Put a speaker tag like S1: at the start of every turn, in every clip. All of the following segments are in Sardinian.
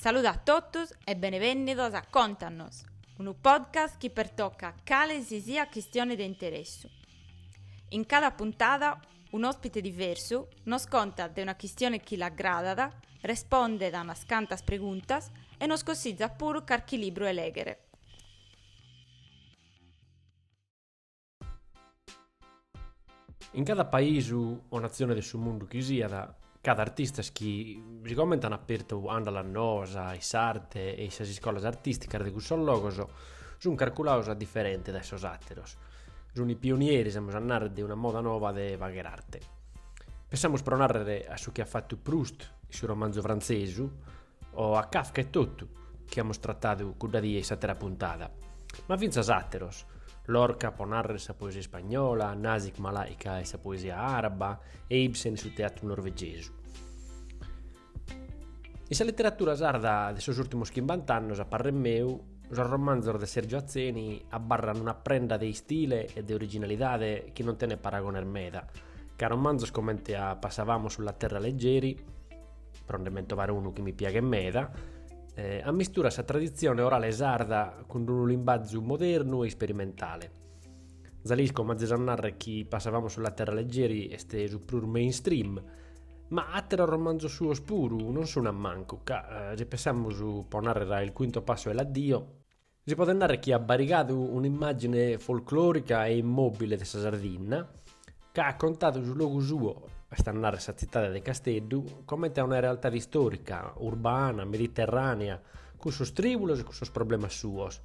S1: Saludu a totus e benevènnidos a Contanos, unu podcast chi pertocat cale si siat chistione de interessu. In cada puntada un'òspite diversu nos contat de una chistione chi l'agradat, respondet a unas cantas preguntas e nos cossizat puru carchi libru de lèghere.
S2: In cada paisu o natzione de su mundu chi siat, ch'at artistas chi, sigomente an apertu andalas noas in s'arte e in sas iscolas artisticas de cussos logos, sun carculados diferentes dae sos ateros. Sun pionieris, amus a narrer, de una moda nova de fagher arte. Pensamus pro narrer a su chi at fattu Proust in su romanzu frantzesu, o a Kafka etotu, chi amus tratadu cudda die in s'àtera puntada, ma fintzas àteros, Lorca pro nàrrere in sa poesia ispagnola, Nazik Malaika in sa poesia àraba e Ibsen in su teatru norvegesu. In sa literatura sarda de sos ùrtimos chimbant'annos, a parrer meu, sos romanzos de Sergio Atzeni abarran una prenda de istile e de originalidade chi non tenet paragones meda, ca romanzos comente a Passavamo sulla terra leggeri, pro nde mentovar unu chi mi piaghet meda, eh, ammisturat sa traditzione orale sarda cun unu limbazu modernu e isperimentale. Za l'isco, m'azes a narrer chi Passavamo sulla terra leggeri est su prus mainstream, ma atteros romanzos suos puru non sun a mancu, ca, eh, si pensamus pro narrer a Il quinto passo è l'addio, Si podet narrer chi at barigadu un'immàgine folclòrica e immòbile de sa Sardinna, ca at contadu su logu suo, est a narrer sa tzitade de Casteddu, comente a una realtade istòrica, urbana, mediterrànea, cun sos trìbulos e cun sos problemas suos,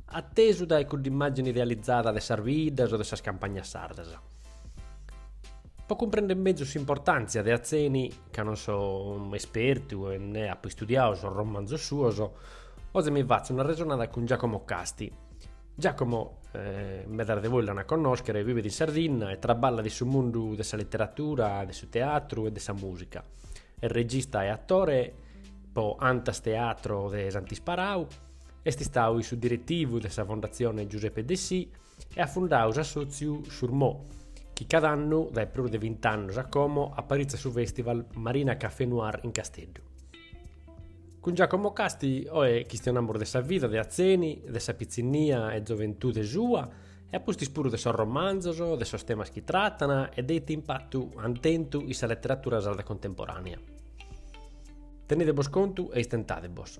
S2: atesu dae cudd'immàgine idealizada de sas biddas o de sas campagnas sardas. Po cumprender mezus s'importàntzia de Atzeni, ca non so espertu e nè apo istudiadu sos romanzos suos, Oe mi fatzu una resonada cun Giacomo Casti. Giacomo, eh, medas de bois l'an a connoschere, vivet in Sardinna e traballat in su mundu de sa literatura, de su teatru e de sa musica. Est regista e attore po Antas Teatro de Sant'Isparau, est istau in su diretivu de sa Fondatzione Giuseppe Dessì e at fundau s'assòtziu Chourmo, chi cada annu, dae prus de bint'annus a como, aparitzat su festival Marina Café Noir in Casteddu. Cun Giacomo Casti oe chistionamus de sa vida de Atzeni, de sa pitzinnia e zoventude sua e a pustis puru de sos romanzos, de sos temas chi tratan e de ite impatu ant tentu in sa leteratura sarda contemporànea. Tenide-bos contu e istentade-bos.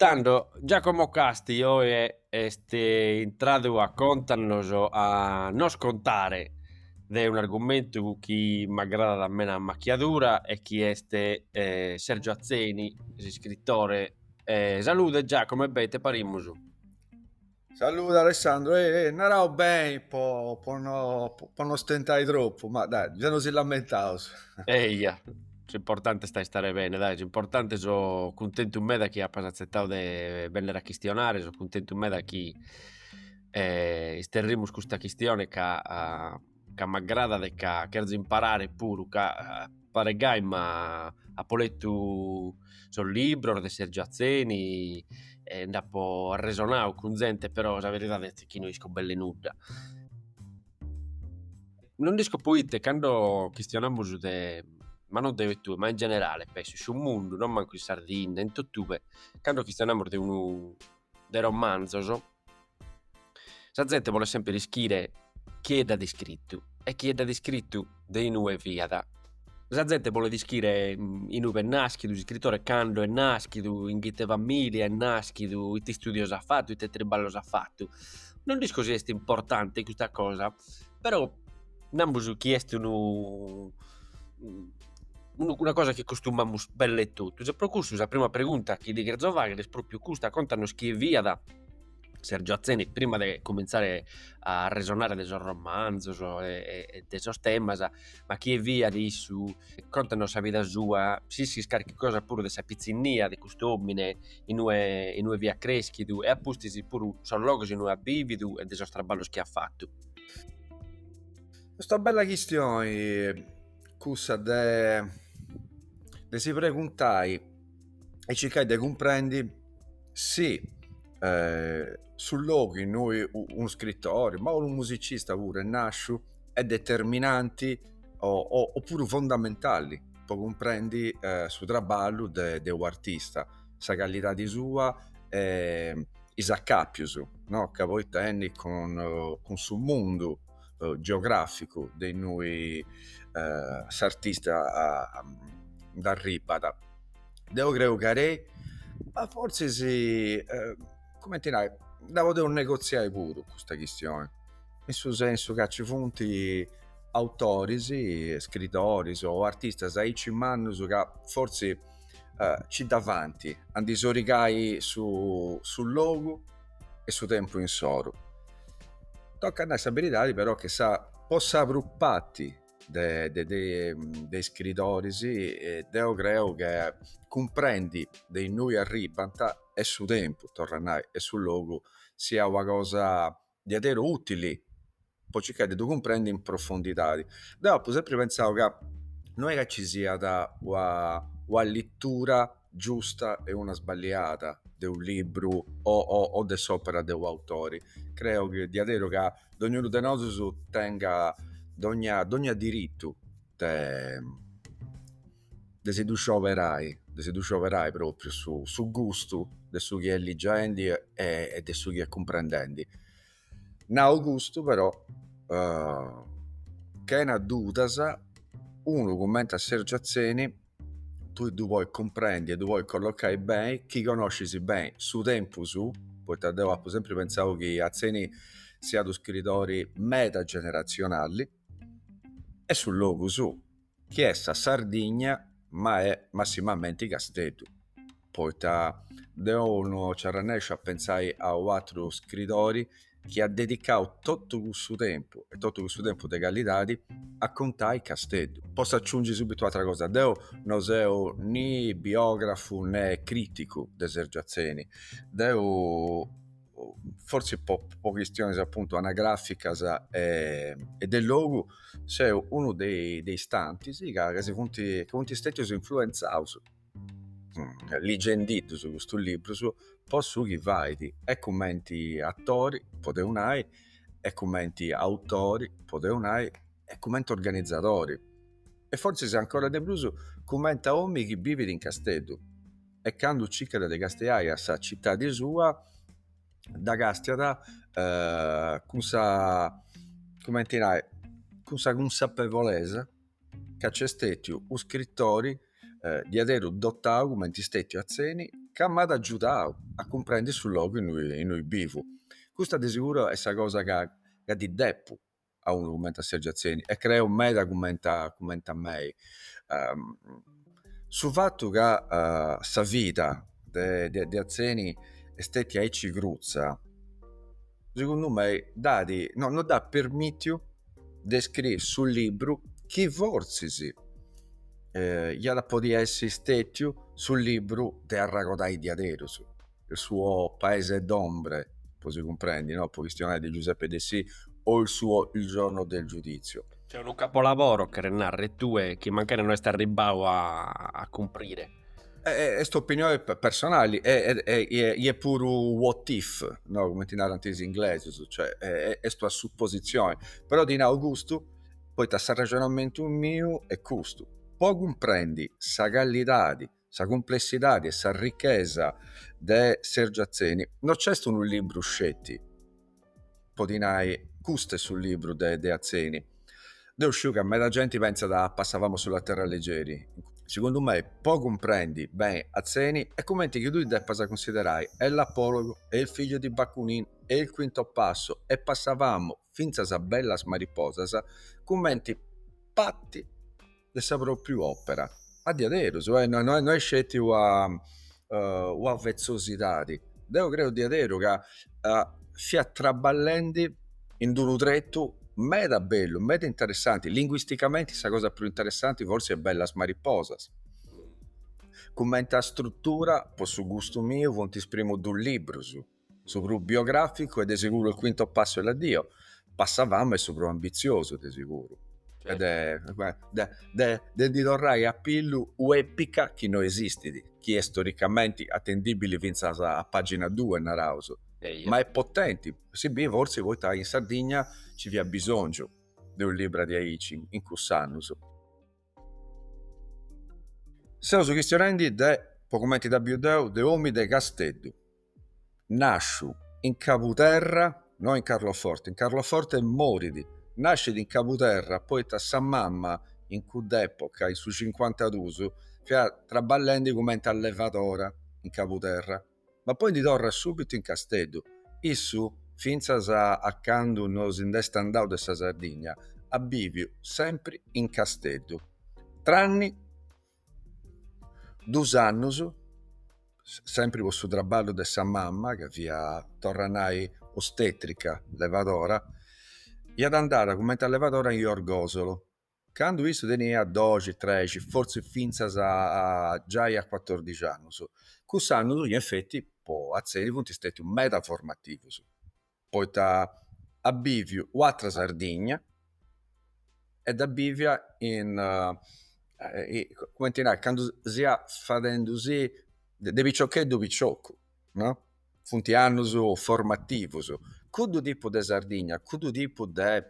S2: Tando Giacomo Casti oe est intradu a contannos a nos contare de un'argumentu chi m'agradat meda a macchiadura e chi est Sergio Atzeni, s'iscritore. Salude Giacomo e bene ite parimus?
S3: Saludi Alessandro, e eh, naraus beni po, po, no, po non stentai tropu, ma dai, già non si lamentaus. Eia,
S2: s'importante est a istare bene, dai, s'importante so cuntentu meda chi apas atzetadu de benner a chistionare, so cuntentu meda chi eh, isterrimus custa chistione ca ca m'agradat e ca cherzo imparare puru ca paret gai ma apo letu sos libros de Sergio Atzeni e nd'apo arresonadu cun zente però sa beridade est chi no isco belle nudda. Non dd'isco proite cando chistionamus de, ma non deo e tue, ma in generale penso in su mundu, non mancu in Sardinna, in totue, cando chistionamus de unu de romanzos Sa zente bolet semper ischire chie dd'at iscritu e chie dd'at iscritu de inue fiat. Sa zente bolet ischire inube est naschidu s'iscritore, cando est naschidu, in ite familia est naschidu, ite istudios at fatu, ite triballos at fatu. Non dd'isco si est importante custa cosa, però namus chi est unu una cosa chi costumamus belle e totus e pro custu sa prima pregunta chi ti cherzo fagher est propriu custa, contanos chie fiat Sergio Atzeni prima de comintzare a arresonare de sos romanzos e de sos temas ma chie fiat issu, contanos sa vida sua, s'ischis carchi cosa puru de sa pitzinnia de cust'omine in ue in ue fiat creschidu e a pustis puru sos logos in ue at bividu e de sos traballos chi at fatu.
S3: Est una bella chistione cussa de de si preguntai e circai de cumprendi si su logu innui unu scritori ma unu musicista puru est nasciu est determinanti o puru fondamentali po cumprendi su trabballu de u' artista sa calidadi sua e is acapius no ca poi tenit cun su mundu eh, geogràficu de innui eh, s'artista nd'arribat. Deu creu ca ei, ma fortzis, eh, cumenti nai, dda podeus negotziai puru custa chistioni, in su sensu ca ci funt autoris, scritoris o artistas aici mannus ca fortzis eh, ci dda faint a ndi sorigai su logu e su tempu insoru. Tocat nai sa beridadi però che po sa prus parti de de de de iscridoris deo creo che cumprendi de innui arribbant est su tempu, torru a nai, e su logu siat una cosa diaderus utili po nci circai de ddu cumprendi in profondidadi. Deu apu sempri pentzau ca no est ca ci siat una letura giusta e una sballiada de unu libru o de s'opera de u' autori. Creu diaderus ca dognunu de nosus tengat dogna dogna diritu de de si ddu scioberai, de si ddu scioberai propriu su gustu de su chi est ligiendi e de su chi est cumprendendi. Nau custu però, chena dudas, unu cumenti a Sergio Atzeni tui ddu podis cumprendi e ddu podis colloccai beni chi connoscis beni su tempus suu, poita deu apu sempri pentzau chi Atzeni siat u' scritori meda generatzionali e su logu suu. chi est sa Sardigna ma est massimamenti Casteddu, poita deu no nci arrannèsciu a pentzai a u' atru scridori chi at dedicau totu cussu tempu, e totu cussu tempu de calidadi, a contai Casteddu. Potzu aciungi subitu u' atra cosa, deu no seu ni biografu ne criticu de Sergiu Atzeni, deu forsi po, po chistionis appuntu anagraficas e, e de logu seu unu de, de is tantis ca, ca si funt, chi funt stètius influenzaus ligendiddus custu librus po su chi fait e cumenti atori, podeus nai, e cumenti autori, podeus nai, e cumenti organizadori e forsis ancora de prus cumenti a omini chi bivit in Casteddu. e candu circu de castiai a sa citadi, dda castiu eh, cun sa cumenti nai cun sa cunsapevolesa ca nc'est stetiu u' scritori diaderu dotau cumenti est stetiu Atzeni ca m'at agiudau a cumprendi su logu innui bivu, custa de seguru est sa cosa ca ddi depu a unu cumenti a Sergiu Atzeni e creu medas cumenti a mei su fatu ca sa vida de Atzeni est stetia aici crutza segundu mei dd'at no dd'at permitiu de scriri su libru chi fortzis iat a podit essi stetiu su libru de arragodai diaderus il suo Paese d'ombre, po si cumprendi, no? po chistionai de Giuseppe Dessì, o il suo Il giorno del giudizio. Cioè unu capolavoro,
S2: cheret narrer tue, chi mancari no est arribbau a a cumprire. Est
S3: opinione personali e est puru what if, no? cumenti narant is inglesus, cioè est una suppositzioni, però ti nau custu poita s'arrexonamentu miu est custu, po cumprendi sa callidadi sa cumplessidadi e sa richesa de Sergiu Atzeni no c'est unu libru sceti, podi nai, custu est su libru de de Atzeni. Deu sciu ca meda genti pentzat a passavamo sulla terra leggeri, segundu mei po cumprendi beni Atzeni est cumenti chi tui depas cunsiderai e l'Apologo e il figlio di Bakunin e il quinto passo e passavamo fintzas a bellas mariposas cumenti parti de sa propriu opera a diaderus no est sceti una vezzosidadi deu creu diaderu ca fiat traballendi in d'unu tretu meda bellu meda interessanti linguisticamenti sa cosa prus interessanti forsi est bellas mariposas cumenti a struttura po su gustu miu funt is primus dus librus Su prus biogràficu est de seguru il quinto passo è l'addio, Passavamo est su prus ambitziosu de seguru e de de de ndi torrai a pillu u' epica chi no esistit, chi est istoricamenti atendibili fintzas a pagina due, naraus, ma est potenti, si bit fortzis poita in Sardigna nci fiat bisòngiu de u' libru de aici in cuss'annus. Seus chistionendi de, po cumenti dda biu deu, de òmi de Casteddu. Nàsciu in Cabuterra, no in Carloforte, in Carloforte morit, nàscit in Cabuterra poita sa mama in cudd'època, in su cincuantadus, fiat traballendi cumenti a levadora in Cabuterra, ma poi ndi torrat subitu in Casteddu. Issu, fintzas a candu no si nd'est andau de sa Sardigna, at bìviu sempri in Casteddu, tranni. dus annus sempri po su traballu de sa mama ca fia torra a nai ostetrica levadora fiat andada cumenti a levadora in Orgosolo candu issu tenia doxi trexi fortzis finzas a giai a cuatordixi annus cuss'annus in effetti po atzeni funt stetius meda formativus poita at biviu u'atra Sardigna e dda bivia in cumenti nai candu si fiat fadendi de piciocheddu piciocu no funt annus formativus cuddu tipu de Sardigna cuddu tipu de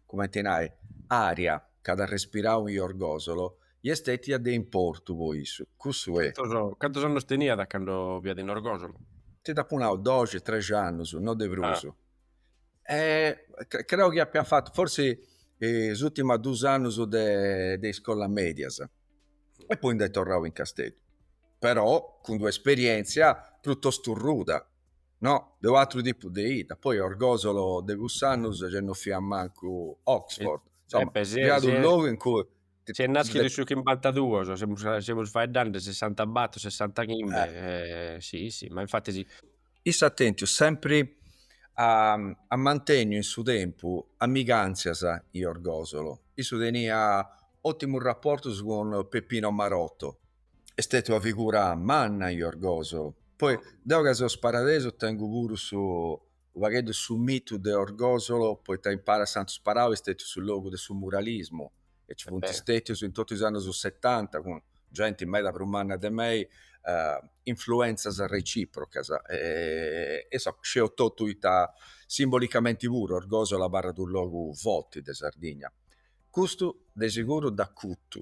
S3: cumenti nai aria ca at respirau in Orgosolo est stetia de importu po issu cussu e. Cantus annus teniat
S2: candu fiat in Orgosolo? Ti d'apu nau
S3: doxi trexi annus no de prus creu chi apia fatu forsi is ultimas dus annus de de iscolas medias e poi nd'est torrau in Casteddu però cun d'una esperienzia prutostu ruda no? de u'atru tipu de ita, poi Orgosolo de cuss'annus gei no fiat mancu Oxford, insoma, fiat unu logu in cui. Si est naschidu in su
S2: chimbantaduus, semus semus faeddandi sessantabattor, sessantachimbbe, si, si, ma infatti si. Issu at
S3: tentiu sempri a a mantenniu in su tempu amiganzias in Orgosolo, issu tenia ottimus rapportus cun Peppino Marotto, Est stètia una figura manna in Orgosolo. Poi deu ca seu sparadesu tengu puru su u pagheddu de su mitu de Orgosolo poita impara Santu Sparau est stètiu su logu de su muralismu e nci funt stètius in totu is annus setanta cun genti meda prus manna de mei influentzas reciprocas e e insoma sceu totu ita simbolicamenti puru Orgosolo abarrat u logu forti de Sardigna. Custu de siguru dd'acutu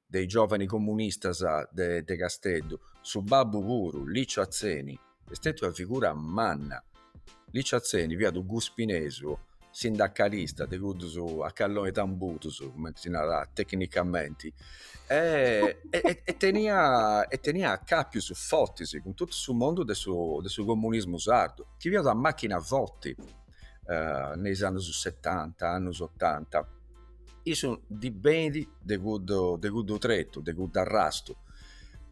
S3: de is giovani comunistas de de Casteddu, su babbu puru, Licio Atzeni, est stetiu una figura manna. Licio Atzeni fiat u guspinesu sindacalista de cuddus a calloni tambudus, cumenti si narat tecnicamenti, e tenia e tenia acapius fortis cun totu su mondu de su de su comunismu sardu, chi fiat una machina forti, in is annus setanta, annus otanta Issu ndi benit de cuddu, de cuddu tretu, de cuddu arrastu.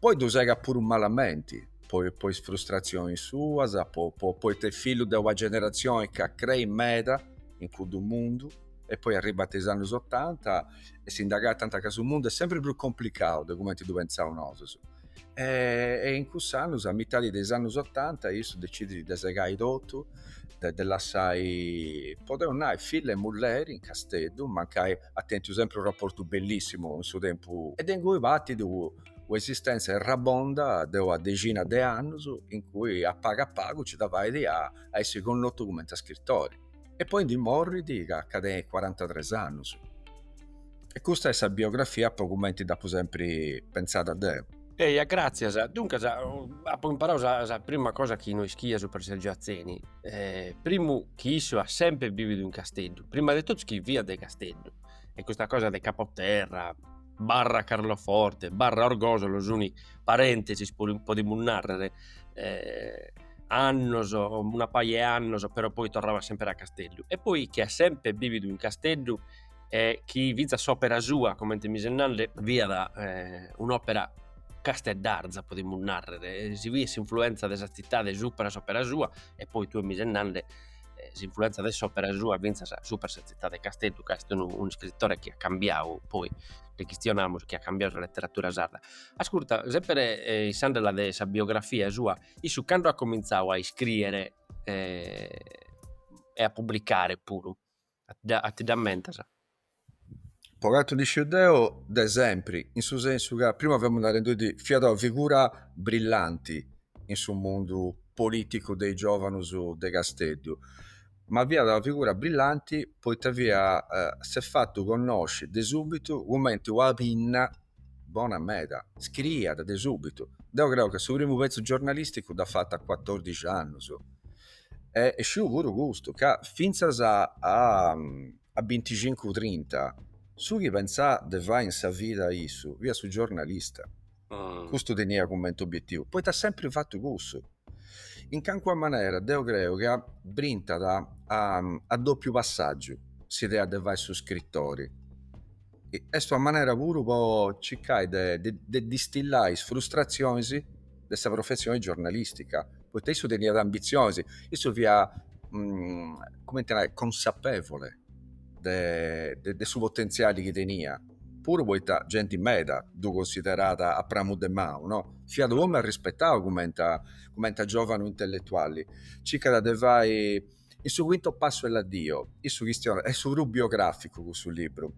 S3: Poi ddu segat puru malamenti, po, po is frustrazionis suas, po, po, poita est fillu de una generatzioni ca creit meda in cuddu mundu e poi arribant is annus otanta e si nd'agatant ca su mundu est sempri prus complicau de cumenti ddu pentzaus nosus e in cussus annus a mitadi de is annus otanta issu decidit de segai totu e de lassai podeus nai filla e mulleri in Casteddu mancai at tentiu sempri unu raportu bellissimu in su tempus e de ingui partit una esistenza errabonda de una dexina de annus in cui a pagu a pagu ci da faidi a essi connotu cumenti a scrittori. e poi ndi morrit ca nca tenit cuarantatres annus. E custa est sa biografia po cumenti dd'apu sempri pentzada deu. Eia, gràtzias.
S2: Duncas, apu imparau sa sa prima cosa chi no ischia supra Sergio Atzeni, primu chi issu at sempri bividu in Casteddu, prima de totus chi fiat de Casteddu,
S4: e custa cosa de Capoterra, barra Carloforte, barra Orgosolo, sun parentesis podimus narrer annos, una paja 'e annos, però poi torrava semper a Casteddu, e poi chi at semper bividu in Casteddu e chi finzas s'opera sua, comente mi ses nande, fiat un'opera casteddarza, podimus narrer, si biet s'influenza de sa tzitade supra s'opera sua, e poi tue mi ses nande s'influenza de s'opera sua finzas supra sa tzitade 'e Casteddu, ca est unu iscritore chi at cambiadu poi, nde chistionamus, chi at cambiadu sa letteratura sarda. Ascurta, semper sighende de sa biografia sua Issu cando at comintzadu a iscrìere e a publicare puru, a ti dda mentas? Po
S3: cantu nd'isciu deo, de sempri, in su sensu ca prima femus narendi fiat una figura brillanti in su mundu politicu de is giovanus de Casteddu, Ma fiat una figura brillanti poita fiat s'est fatu connosci de subitu cumenti una pinna bona meda, scriiat de subitu. Deu creu ca su primu petzu giornalisticu dd'at fatu a cuatordixi annus e sciu puru custu ca finzas a binticincu-trinta su chi pentzat de fai in sa vida issu fiat su giornalista. Ah. Custu tenia cumenti obietivu, poita at sempri fatu cussu. In cancuna manera deu creu ca brintat a, a dopiu passagiu s'idea de fai su scritori. Est una manera puru po circai de, de, de distillai is frustrazionis de sa professioni giornalistica, poita issu teniat ambizionis, issu fia, cumenti a nai, consapevole de, de su potenziali chi tenia. puru poita genti meda ddu considerat a pramu de manu, no? Fiat unu omi arrispetau cumenti a cumenti a giovanu intelletuali. Circat de fai in su quinto passo è l'addio. Issu chistionat, est puru biograficu cussu libru,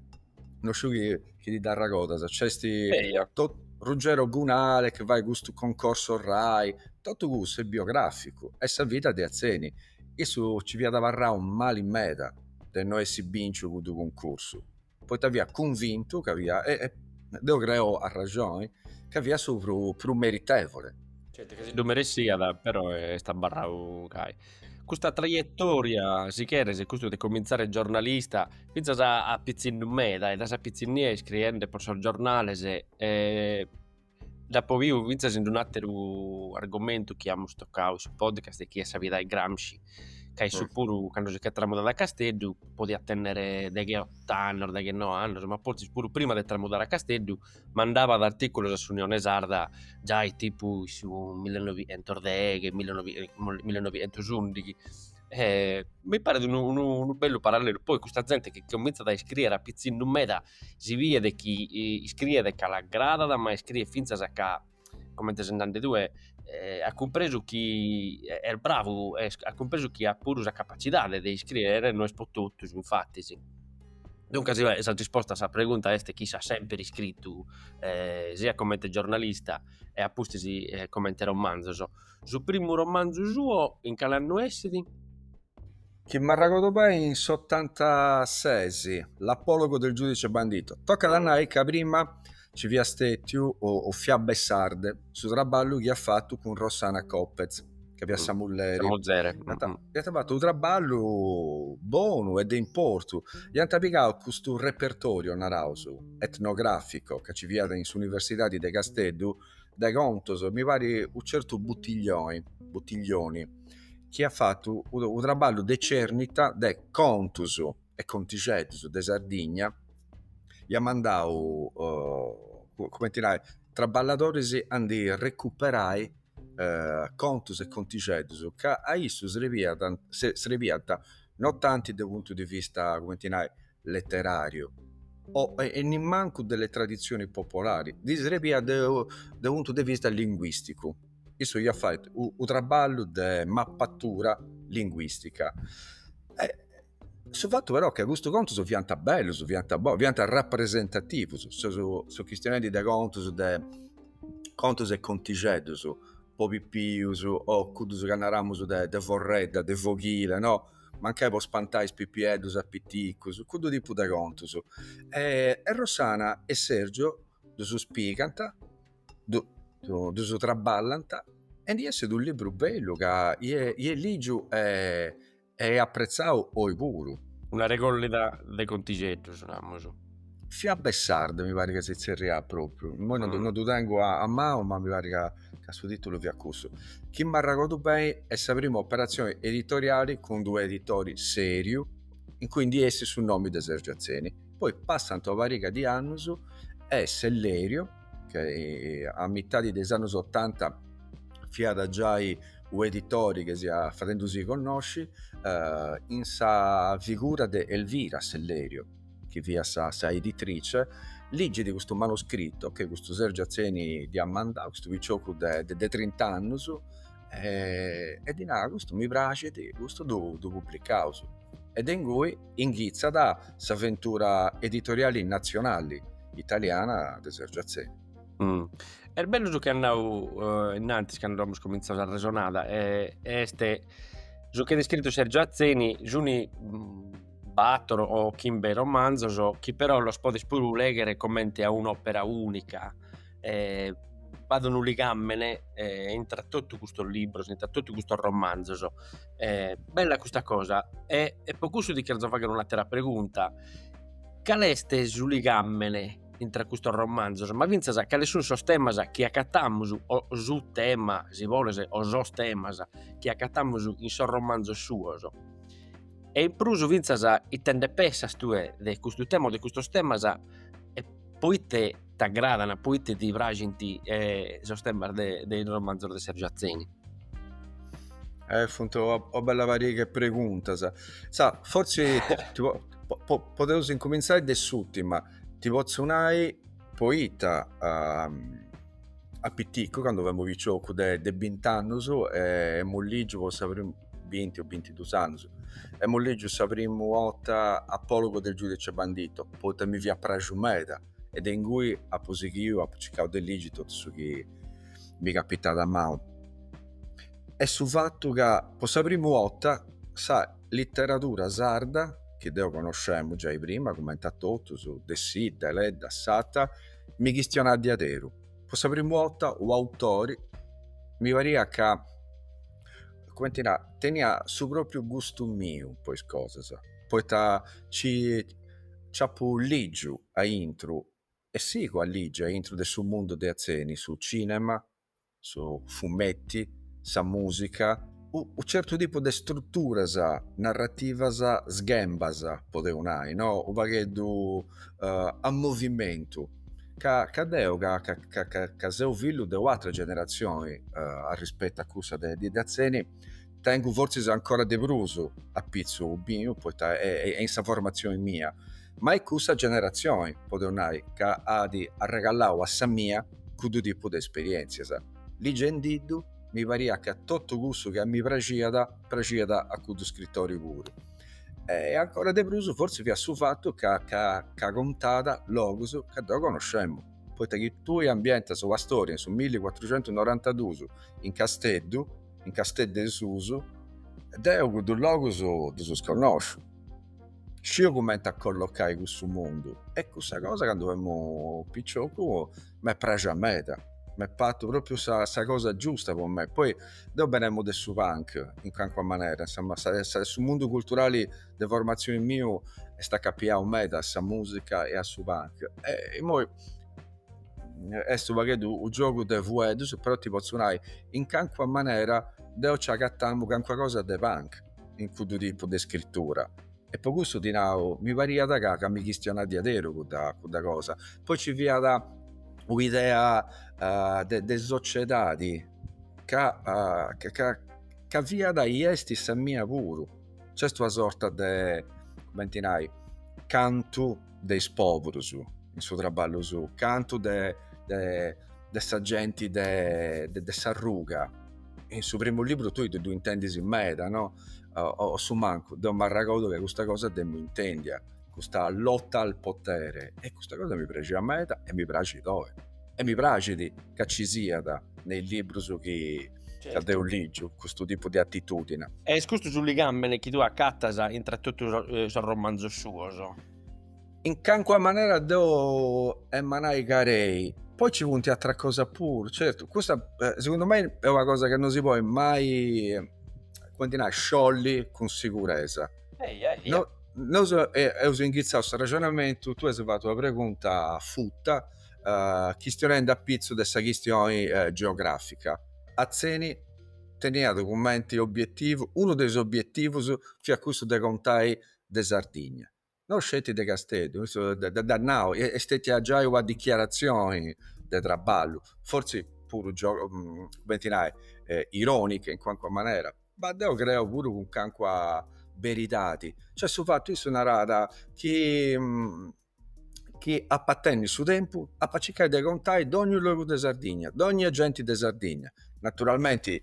S3: no sciu chi chi ti dd'arragodas, nc'esti Eia. to- Ruggero Gunale chi fait custu concorso rai, totu cussu est biograficu, est sa vida de Atzeni. Issu ci fiat abarrau mali meda de no essi binciu cuddu cuncursu. poita fia cunvintu ca fia, e deo creo a raxoni, ca fia su prus meritevole. Certu chi si ddu
S4: meressiat, però est abarrau gai. Custa traietòria, si cheres, custu de comintzare giornalista, fintzas a pitzinnu meda e dae sa pitzinnia iscriende po sos giornales e Dd'apo biu fintzas in un'àteru argomentu chi amus tocau in su podcast e chi est sa vida 'e Gramsci, ca issu puru candu si ch'est tramudadu a Casteddu podiat tènnere deghe e ot'annos, deghe e noe annos, ma fortzis puru prima de tramudare a Casteddu mandabat artìculos a s'Unione Sarda giai tipu in su millenovientos deghe, millenovientos ùndighi e mi paret unu bellu parallelu, poi custa zente chi comintzat a iscrìere a pitzinnu meda si biet chi iscriet ca l'agradat ma iscriet finzas ca comente as nadu tue at cumpresu chi est bravu e at cumpresu chi at puru sa capacidade de iscriere, no est pro totus infattis, duncas sa risposta a sa pregunta est chi si, at semper iscritu e siat comente giornalista e apuntu comente romanzos. Su primu romanzu suo in cale annu essit?
S3: Chi m'arragodu beni in s'ottantases, l'apologo del giudice bandito. Tocat a nai ca prima nci fiat stètiu o Fiabe sarde su traballu chi at fatu cun Rossana Copez, ca fiat sa mulleri. Sa muzere. Iant fatu unu traballu bonu e de importu. Iant pigau custu repertoriu, naraus, etnogràficu ca nci fiat in s'Universidadi de Casteddu, de contus, mi parit unu certu Buttiglioni, Buttiglioni chi at fatu unu traballu de cernita de contus e contixeddus de Sardigna, iat mandau cumenti nai traballadoris a ndi recuperai contus e contixeddus ca a issu srebiant, srebiant non tanti de unu puntu de vista cumenti nai leteràriu o e nimmancu delle tradizioni popolari, ddi srebiat de u puntu de vista linguìsticu. Issu iat fatu u traballu de mapatura linguìstica. Su fatu però est ca custu contus fiant bellus, fiant bous, fiant rapresentativus, seu chistionendi de contus de contus e contixeddus po pipius o cuddus ca naramus de forredda, de foghile no mancai po spantai is pipieddus a piticus, cuddu tipu de contus. E Rossana e Sergio ddus pigant, ddus traballant e ndi essit unu libru bellu ca est ligiu e appretzau
S4: oi puru. Una regollida de contixeddus, namus.
S3: Fiabe sarde mi parit ca si tzerriat propriu, immoi non ah. ddu tengu a, a manu ma mi parit ca, ca su titulu fiat cussu. Chi m'arragodu beni est sa prima operatzioni editoriali cun d'u editori seriu in cui ndi essit su nomi de Sergio Atzeni. Poi passant una pariga di annus e Sellerio, ca eh, a mitadi de is annus otanta fiat giai u editori ca si fiat fadendusì connosci, eh, in sa figura de Elvira Sellerio, chi fiat sa, sa editrice, ligit custu manuscritu chi custu Sergiu Atzeni ddi at mandau, custu piciocu de, de, de trint'annus, e, e ddi narat, custu mi praxit, custu ddu, ddu publicaus. E de ingui inghitzat s'aventura editoriali nazionali italiana de Sergiu Atzeni.
S4: Mm. Est bellu su chi as nau innantis candu amus comintzau s'arresonada, est su chi at iscritu Sergiu Atzeni, s' unu batoro o chimbe romanzos chi però los podes puru legher comente a un'opera unica e b'at unu ligamene intra totu custos libros intra totu custos romanzos est bella custa cosa e e po cussu ti cherzo fagher un'attera pregunta cal est su ligamene intra custos romanzos ma finzas cales sun sos temas chi accattamus o su tema si boles o sos temas chi accattamus in sos romanzos suos E in prus fintzas ite nde pessas tue de custu tema o de custos temas e poite t'agradan, poite ti praxint sos temas de de is romanzos de Sergiu Atzeni? E funt
S3: una bella pariga 'e preguntas, fortzis podeus incumintzai de s'ùrtima, ti potzu nai poita de piticu cando femu piciocu de bint'annus emu lìgiu po sa primu binti o bintidus annus, emu lìgiu sa primu 'orta Apologo del Giudice Bandito, poita mi fiat praxu meda e de ingui apu sighiu, apu circau de ligi totu su chi mi capitàt a manu. E' su fatu ca po sa primu 'orta sa literadura sarda, chi deu conoscemu giai prima cumenti a totus, Dessì, Deledda, Satta, mi chistionàt de àteru. Po sa primu 'orta u' autori mi pariat ca cumenti nai, teniat su propriu gustu miu po is cosas, poita ci apu ligiu aintru e sigu a ligi aintru de su mundu de Atzeni, su cinema, su fumettu, sa musica, u certu tipu de strutturas narrativas sghembas, podeu nai no, u pagheddu a movimentu. Ca, ca deu, ca, ca, ca, ca, ca seu fillu de u'atra generatzioni uh, arrispetu a cussa de de Atzeni, tengu fortzis ancora de prus a pitzu miu, poita e, e in sa formatzioni mia, ma est cussa generatzioni, podeus nai, ca at arregallau a sa mia cuddu tipu de esperientzias. Ligendiddu, mi pariat ca totu cussu chi a mi praxiat, praxiat a cuddu scritori puru. e ancora de prus forsi fiat su fatu ca, ca, ca contàt logus ca deu conoscemu, poita chi tui ambientas una storia in su 1492 in Casteddu, in Casteddu 'e Susu, deu cuddus logus ddus connosciu, sciu cumenti a collocai cussu mundu e cussa cosa candu femu piciocu m'est praxia meda, m'est partu propriu sa sa cosa giusta po me, poi deu benemu de su punk in calincuna manera, insomma sa sa su mundu culturali de formatzioni miu est acapiau meda a sa musica e a su punk e immoi est u' pagheddu u' giogu de fueddus, però ti pozzu nai in calincuna manera deu ci agatamu calincuna cosa de punk in cuddu tipu de scrittura. E po cussu ti nau, mi pariat ca mi chistionat diaderus cudda cosa, poi ci fiat un'idea de sociedadi ca ca fiat e est sa mia puru, c'est una sorta de, cumenti nai, cantu de is poburus in su traballu sou, cantu de, de, de sa genti de, de, de s'arruga. In su primu libru tui ddu intendis meda, no? O, o su mancu, deu m'arragodu ca custa cosa deu intendia, custa lotta al potere, e custa cosa mi praxiat meda e mi praxit oi. E mi praxit ca ci siat in is librus chi, Ca deu ligiu custu tipu de atitudine. Est custu
S4: su ligamene chi tue acatas intra totu sos romanzos suos? In
S3: cancua manera deu emu a nai ca ei. Poi ci funt atras cosas puru, certu, custa segundu mei est una cosa chi no si podit mai, cumenti nai, sciolli cun siguresa. Eia, eia. Nosu eus inghitzau s'arrexonamentu, tue as fatu una pregunta futa, uh, chistionendi a pitzu de sa chistioni uh, geogràfica. Atzeni teniat cumenti obietivu, unu de is obietivus fiat cussu de contai sa Sardigna, no sceti de Casteddu, issu dd'at nau, est stetia giai una dichiaratzioni de traballu, fortzis puru, mm, cumenti nai, eh, ironica in cuancua manera, ma deu creu puru cun cancua beridadi, cioè su fatu, issu narat chi, mm, chi ap'a tenni su tempus ap'a circai de contai dogniu logu de Sardigna dognia genti de Sardigna naturalmenti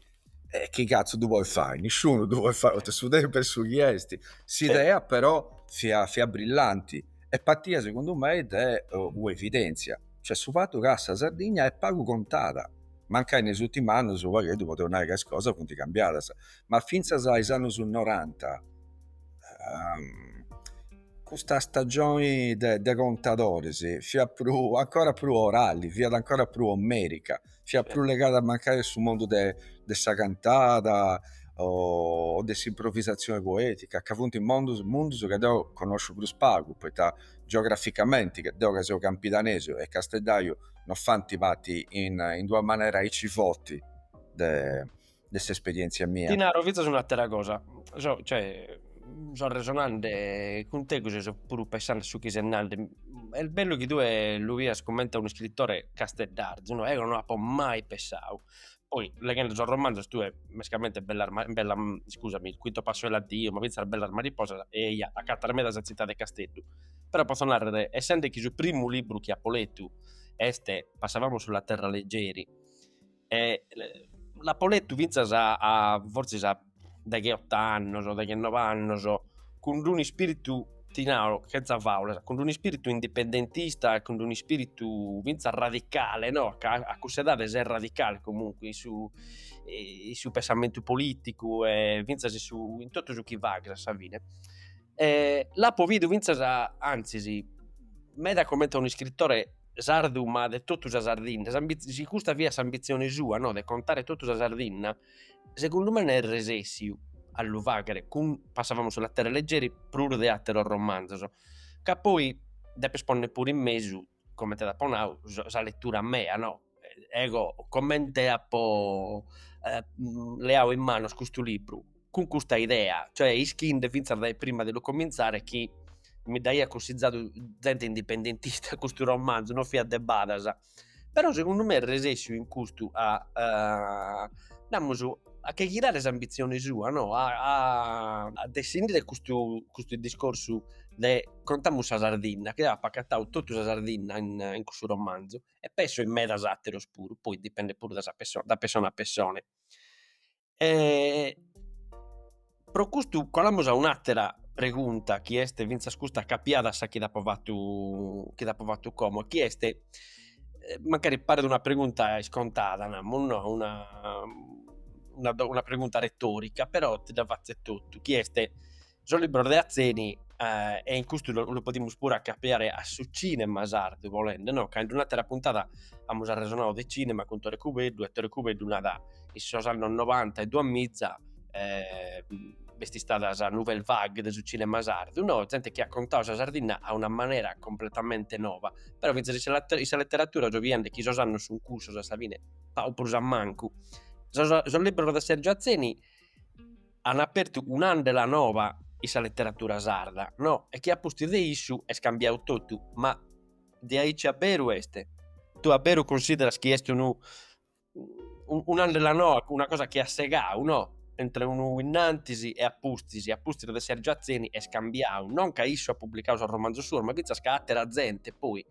S3: e chi cazzu du podis fai nisciunu du podis fai poita su tempus est su chi est s'idea però fiat fiat brillanti e partiat segundu mei de ua evidenzia cioè su fatu ca sa Sardigna est pagu contada mancai in is urtimus annus u pagheddu podeus nai ca is cosas funt cambiadas ma fintzas a is annus noranta Custa stagioni de, de contadoris fiat prus, ancora prus orali, fiat ancora prus omerica, fiat prus legada mancai a su mondu de, de sa cantada o de s'improvisazioni poetica, ca funt mondus, mundus ca deu connosciu prus pagu, poita geograficamenti, deu ca seu campidanesu e casteddaiu non fant parti in, in d'una manera aici forti de de s'esperièntzia mia. Ti naro fintzas
S4: un'àtera cosa, so cioè so resonende cun tegus so puru pensende a su chi ses nande, est bellu chi tue lu bias comente a un'iscritore casteddarzu no, eo no apo mai pensadu, poi leghende sos romanzos tue mescamente bellas bellas scusami, il quinto passo è l'addio ma fintzas bellas mariposas bi acatas meda sa tzitade de Casteddu, però potzo narrer essende chi su primu libru chi apo letu est Passavamo sulla terra leggeri E l'apo letu fintzas a a forsis a degheott'annos o deghenov'annos cun d'un'ispiritu, ti naro chentza faulas, cun d'un'ispiritu indipendentista e cun d'un'ispiritu fintzas radicale no, ca a cuss'edade ses radicale comunque in su in su pensamentu politicu e fintzas in su in totu su chi faghes a sa fine e l'apo bidu fintzas anzis meda comente a un'iscritore sardu ma de totu sa Sardinna, si custa fiat s'ambitzione sua no de contare totu sa Sardinna segundu me est resessiu a lu faghere cun Passavamo sulla terra leggeri prus de atteros romanzos ca poi depes ponner puru in mesu comente t'apo nadu sa lettura mea no ego comente apo leadu in manos custu libru cun custa idea, cioè ischinde fintzas dae prima de lu comintzare chi mi dd'aiat cussizadu zente indipendentista custu romanzu, non fiat de badas, però segundu me est resessiu in custu a namus a che chirare s'ambitzione sua no a a dessindire custu custu discorsu de contamus sa Sardinna, chi eo apo acatadu totu sa Sardinna in in cussu romanzu e penso in medas atteros puru, poi dipendet puru da sa pessone da pessone a pessone pro custu colamus a un'attera pregunta chi est finzas custa acappiada a sa chi t'apo fattu chi t'apo fattu como chi est mancari paret una pregunta iscontada namus no una una pregunta retorica però ti dda fatzo etotu chi est Sos libros de Atzeni e in custu lu podimus puru acapiare a su cinema sardu bolende no ca in un'atera puntada amus arresonadu de cinema cun Tore Cubeddu e Tore Cubeddu narat in sos annos novanta e duamiza b'est istada sa nouvelle vague de su cinema sardu no zente chi at contadu sa Sardinna a una manera completamente nova però finzas in sa letteratura so biende chi sos annos sun cussos a sa fine pagu prus o mancu sos libros de Sergio Atzeni an apertu un'andela nova in sa leteratura sarda, no, e chi a pustis de issu est cambiadu totu, ma de aici a beru est, tue a beru cunsideras chi est unu un'andela noa, una cosa chi at segau, no, entre unu innantis e a pustis, a pustis de Sergio Atzeni est cambiadu, non ca issu at publicadu sos romanzos suos, ma fintzas ca atera zente poi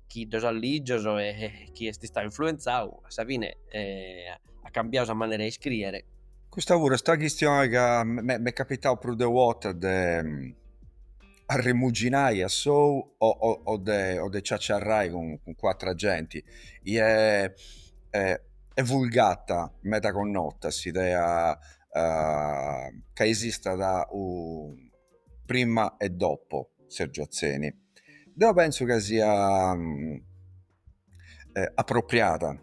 S4: chi ddos at lìgios e chi est istadu influenzadu a sa fine at cambiadu sa manera 'e iscrìere Custa puru est
S3: una chistioni ca m'est capitau prus de una 'orta de arremuginai a sou o de ciaciarrai cun atra genti est vulgata meda connota s'idea ca esistat unu prima e dopo Sergio Atzeni deu pentzu ca sia apropriada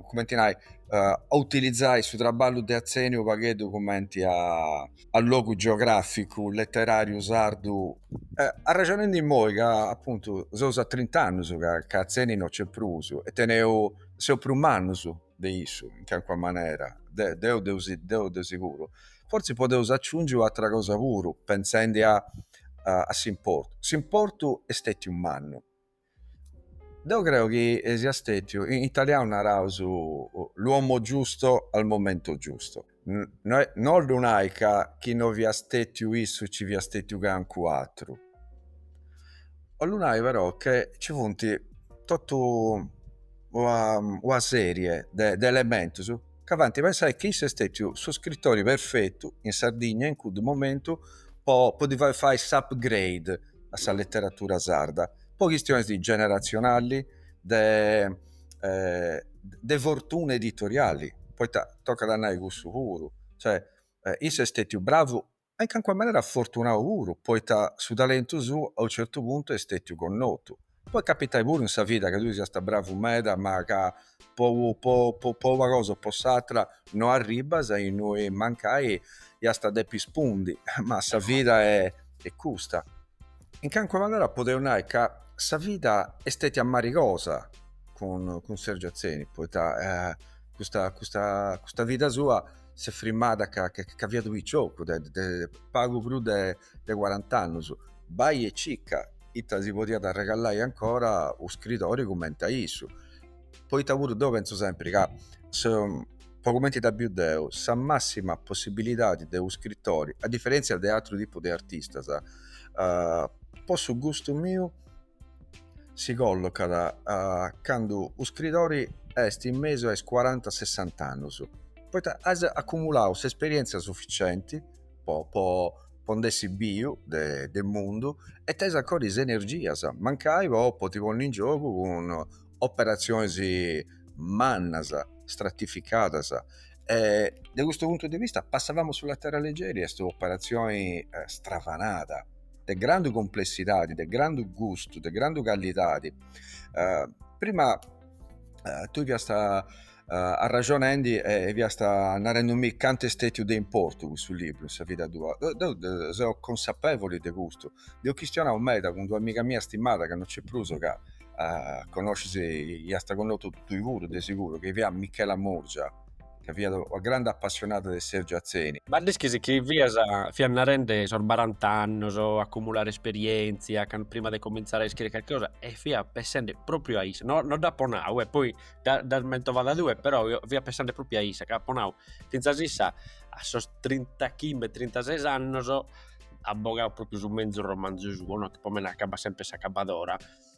S3: cumenti nai a utilizzai su trabballu de Atzeni unu pagheddu cumenti a logu geograficu letterariu sardu arrexonendi immoi ca appuntu seus a trint'annus ca Atzeni no c'è prus e teneus seus prus mannus de issu in calincuna manera deu de seguru fortzis podeus aciungi u' atra cosa puru pentzendi a a s'importu, s'importu est stetiu mannu. Deu creu chi siat stetiu, in italianu naraus l'uomo giusto al momento giusto. No 'ollu nai ca chi no fiat stetiu issu ci fiat stetiu cancun'atru. 'ollu nai però che ci funti totu ua serie de elementus. ca faint pensai chi issu est stètiu su scritori perfetu in Sardigna in cuddu momentu po podi fai fai s'upgrade a sa leteratura sarda po chistionis generatzionalis de de fortuna editoriali poita tocat a nai cussu puru cioè issu est stètiu bravu ma in cancuna manera afortunau puru, poita su talentu suu a unu certu puntu est stetiu connotu. Podit capitai puru in sa vida ca tui siast bravu meda ma ca po po po una cosa o po s'atra no arribbas a innui mancai iast a depi spundi, ma sa vida est custa. In cancuna manera podeus nai ca sa vida est stetia marigosa cun cun Sergio Atzeni, poita custa custa custa vida sua s'est frimmada ca ca fiat piciocu de pagu prus de cuarant'annus bai e circa ita si podiat arregallai ancora u scridori cumenti a issu poita puru deu pentzu sempri ca po cumenti dda biu deu sa massima possibilidadi de u scritori a diferentzia de atru tipu de artistas po su gustu miu si collocat candu u scridori est in mesu a is cuaranta sessant'annus, poita as acumulau s'esperientzia suficienti po po po nd'essi biu de de mundu e tenis ancora is energias mancai po po ti ponni in giogu cun operatzionis mannas, stratificadas e de custu puntu de vista Passavamo sulla terra leggeri est u' operatzioni stravanada de grandu cumplessidadi, de grandu gustu, de grandu callidadi. Uh, prima uh, tui fiast uh, arraxonendi e fiast narendumi cantu est stetiu de importu custu libru in sa vida tua. Deu de, seu consapevoli de custu. Nd'eus chistionau meda cun d'una amiga mia stimada, ca non c'è prus, ca uh, connoscis, iast connotu tui puru, de siguru, chi fiat Michela Murgia. ca fiat una grande appassionada de Sergio Atzeni. Ma dd'ischis chi
S4: fias fiat narende sos barant'annos, acumulare esperientzia, can prima de comintzare a iscrìere carchi cosa e fia pensende propriu a issa, no no dd'apo nau e poi dda dd'as mentovada tue, però eo fia pensende propriu a issa ca apo nau, fintzas issa a sos trintachimbe trintases annos at bogau propriu su menzu romanzu suo no, chi po mene acabat sempre S'Acabadora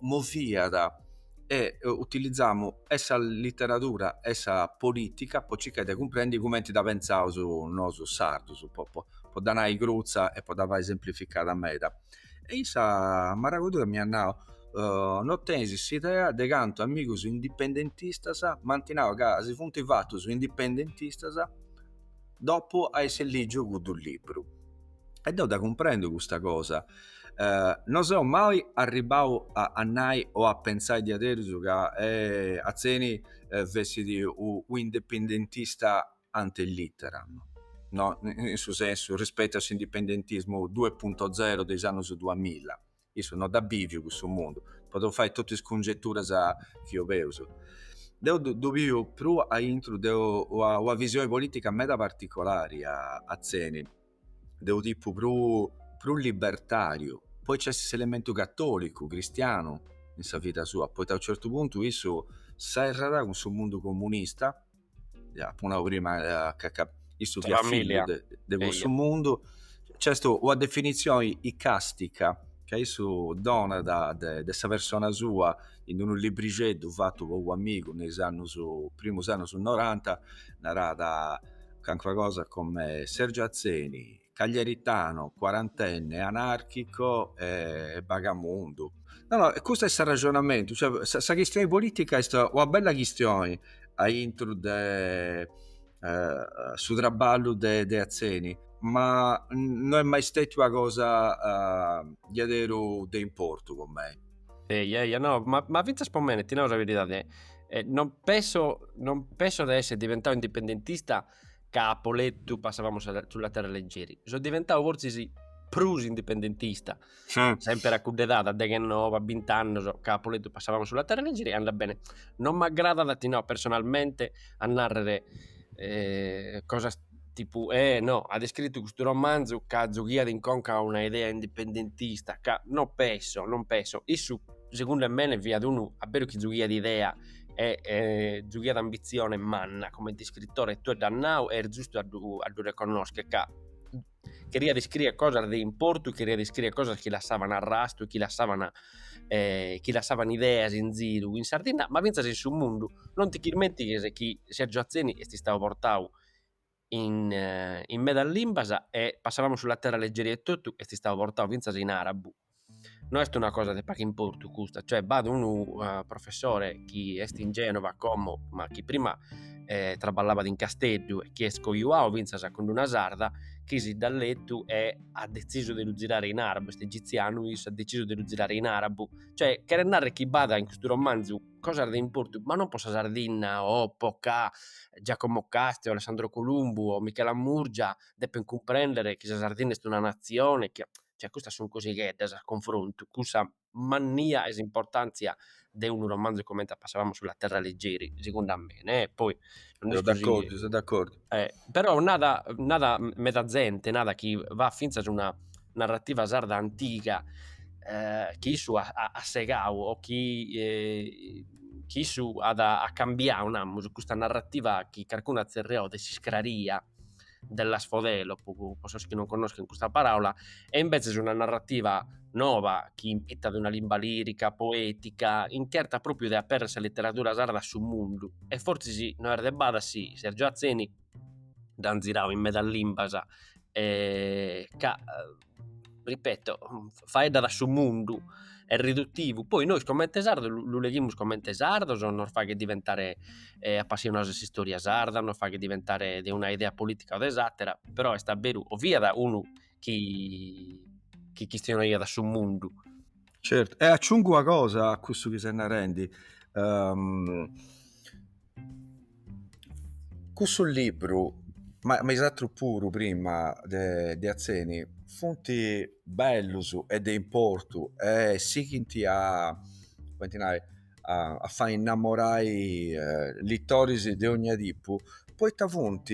S3: moviat e utilizamu e sa literadura e sa politica po circai de cumprendi cumenti dda pentzaus nosu sardus po po dda nai crutza e po dda fai semplificada meda e issa m'arregordu ca m'iat nau no tenis s'idea de cantu amigus indipendentistas m'ant nau ca si funt fatus indipendentistas dopu a essi lìgiu cuddu libru. E deu dda cumprendu custa cosa, no seu mai arribbau a nai o a pentzai diaderus ca Atzeni fessit u' indipendentista ante litteram, no in su sensu rispettu a s'indipendentismu duepunto zero de is annus duamilla. Issu no dd'at bìviu cussu mundu, podeus fai totu is cungeturas chi obeus. Deu ddu biu prus a intru de una visioni polìtica meda particolari a Atzeni, de unu tipu prus libertàriu, poi nc'est s'elementu catòlicu, cristianu in sa vida sua, poita a u' certu puntu issu serrat cun su mundu comunista ja apu nau prima ca, ca issu fiat familia. fillu de, de cussu mundu, nc'est una definitzioni icastica ca issu donat de, de sa persona sua in unu librixeddu fatu po u'amigu in is annus, primus annus noranta, narat, calincuna cosa come Sergio Atzeni, cagliaritano, quarantenne, anarchico e bagamundu. No no custu est s'arraxonamentu, cioè sa, sa chistioni politica est una bella chistioni aintru de eh, su traballu de, de Atzeni, ma no est mai stetiu una cosa eh, diaderu de importu po mei. Eia eia no,
S4: ma, ma fintzas po mene, ti nau sa beridade, eh, non penso, non penso de esser diventau indipendentista ca apo letu Passavamo sulla terra leggeri, so diventau fortzis prus indipendentista, semper a cudda edade, deghenoe, bint'annos, ca apo letu Passavamo sulla terra leggeri e andat bene. Non m'agradat, ti nau, personalmente, a nàrrere cosas tipu, eh no, at iscritu custu romanzu ca zughiat in conca una idea indipendentista, ca no penso, non penso, issu segundu 'e mene fiat unu a beru chi zughiat idea e e zughiat ambitzione manna comente iscritore e tue dd'as nadu e est zustu a ddu a ddu reconnoschere ca cheriat iscriere cosas de importu, cheriat iscriere cosas chi lassavan arrastu e chi lassavan e chi lassavan ideas in ziru in Sardinna ma finzas in su mundu, non ti chirmentighes chi Sergio Atzeni est istadu portadu in in medas limbas e Passavamo sulla terra leggeri etotu est istadu portadu fintzas in arabu no est una cosa de pagu importu custa cioè b'at unu professore chi est in Genova como ma chi prima traballavat in Casteddu e chi est cojuadu fintzas cun una sarda chi si dda letu e at detzisu de lu zirare in arabu est egizianu issu at detzisu de lu zirare in arabu cioè cheret narrer chi b'at in custu romanzu cosas de importu, ma non po sa Sardinna o po ca Giacomo Casti o Alessandro Columbu o Michela Murgia depint cumprendere chi sa Sardinna est una natzione, chi, cioè custas sunt cosigheddas a confrontu cun sa mannia e s'importantzia de unu romanzu comente a Passavamo sulla terra leggeri, segundu a mene, eh, poi no est gosi. Seu d'accordzu, seu d'accordzu.
S3: Però
S4: nada nada meda zente narat chi b'at fintzas una narrativa sarda antiga chi issu at at segadu o chi chi issu at at cambiadu namus custa narrativa chi carcunu at zerriadu de s'iscraria dell'asfodelo pro sos chi non connoschen custa paraula E imbetzes una narrativa nova chi impitat una limba lirica, poetica, incherta propriu de aperrer sa literadura sarda a su mundu e fortzis no est de bada si Sergiu Atzeni dd'ant zirau in medas limbas e ca ripeto faeddat a su mundu, est ridutivu, poi nois comente sardos lu leghimus comente sardos, nos faghet diventare apassionados de s'istòria sarda, nos faghet diventare de una idea politica o de s'atera, però est a beru o fiat unu chi, chi chistionaiat a su mundu. Certu,
S3: e aciungu una cosa a cussu chi ses narendi, um, cussu libru ma, ma is atrus puru prima de, de Atzeni funt bellus e de importu e sighint a, cumenti nai, a, a fai innamorai eh, litoris de ogna tipu poita funt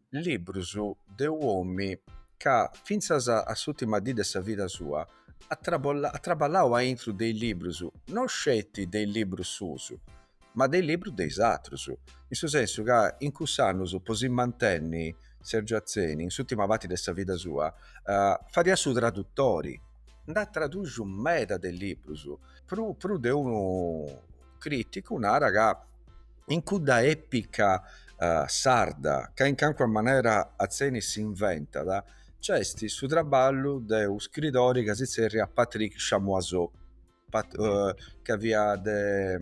S3: Librus de un'òmini ca fintzas a s'ùtima dì de sa vida sua at traballau a intru de is librus, no sceti de is librus suus, ma de is librus de is atrus, in su sensu ca in cussus annus, po si mantenni, Sergiu Atzeni, in s'ùtima parti de sa vida sua, fadiat su tradutori, nd'at traduxiu meda de librus, prus de unu crìticu narat ca. In cudda èpica sarda, ca in cancuna manera Atzeni s'inventat, nc'est su traballu de unu scritori ca si tzerriat Patrick Chamoiseau, ca fiat de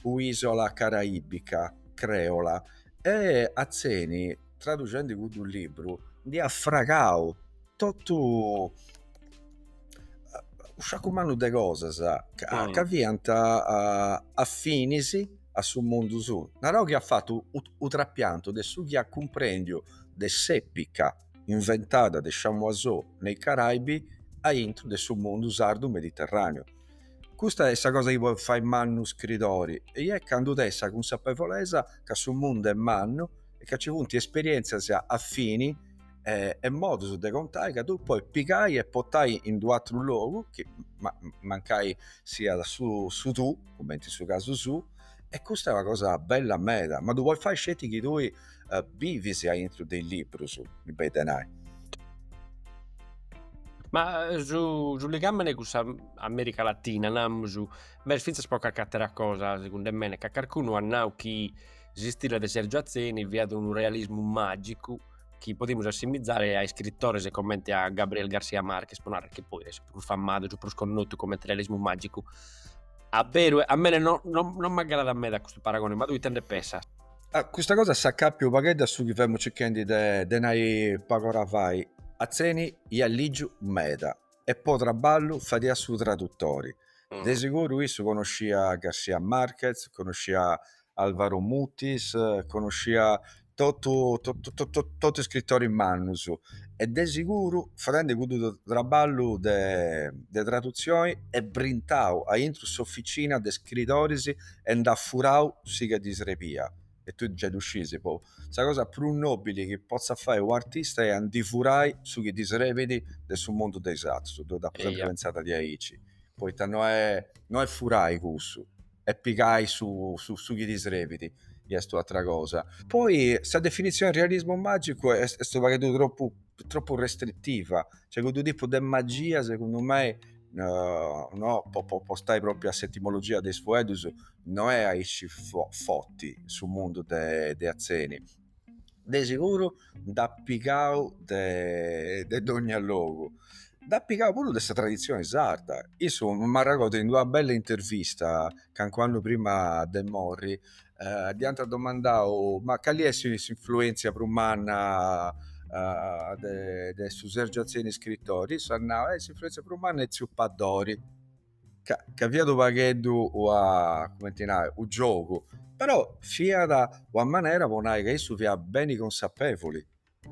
S3: un'ìsula caraibica, crèola, e Atzeni traducendi cuddu libru nd'iat fragau totu unu sciacu mannu de cosas ca, ca fiant afinis a su mundu suu, naraus chi at fatu u trapiantu de su chi at cumprendiu de s'epica inventada de Chamoiseau nei Caraibi aintru de su mundu sardu-mediterraneu. Custa est sa cosa chi podet fai mannu u' scritori est candu tenet sa cunsapevolesa ca su mundu est mannu e ca ci funt esperièntzias afinis e modus de contai ca tui podis pigai e potai in d'u' atru logu, mancai siat su tù, cumenti in su casu suu. E custa est una cosa bella meda, ma ddu podis fai sceti chi tui bivis aintru de is liburus, mi benit de nai.
S4: Ma su ligame de cun s'America Latina, namus, ma est finzas po cacch'atera cosa, segundu mene, ca carcunu at nau chi s'istile de Sergio Atzeni fiat unu realismu magicu chi podimus assimizare a iscritores comente a Gabriel García Márquez, pro narrer chi poi est su prus famadu, su prus connotu comente realismu magicu. A beru a mene no no no m'aggradat meda custu paragone, ma tui ite nde pensas? Ah custa cosa
S3: s'acàpiat u' paghedda a su chi femu circhendi de de nai pagu ora fait, Atzeni ia ligiu meda e po trabballu fadia su traduttori, de siguru issu conoscia García Márquez, conoscia Alvaro Mutis conosciat totu totu is scrittoris mannus e de siguru fadendi cuddu traballu de de tradutzioni est brintau aintru s'officina de scritoris e nd'at furau su chi ddi srebiat e tui giai ddu scisi poi sa cosa prus nobili chi potzat fai u' artista est a ndi furai su chi ddi srebit de su mundu de is atrus deu dd'apu sempri pentzada diaici poita no est no est furai cussu est pigai su su chi ti srebit est un'atra cosa. Poi sa definitzioni de realismu magicu est est u' pagheddu troppu troppu restritiva, cioè cuddu tipu de magia segundu mei no po po po stai propriu a s'etimologia de is fueddus no è aici fo forti in su mundu de de Atzeni. de seguru nd'at pigau de de dogna logu, nd'at pigau puru de sa tradizioni sarda, issu m'arregordo in una bella intervista calincunu annu prima de morri dd'iant domandadu ma cali est s'influenzia prus manna de su Sergiu Atzeni iscritori, issu at nau, s'influenzia prus manna est tziu Paddori ca, ca fiat unu pagheddu una, cumenti nai, unu giogu, però fiat una manera po nai ca issu fiat beni consapevoli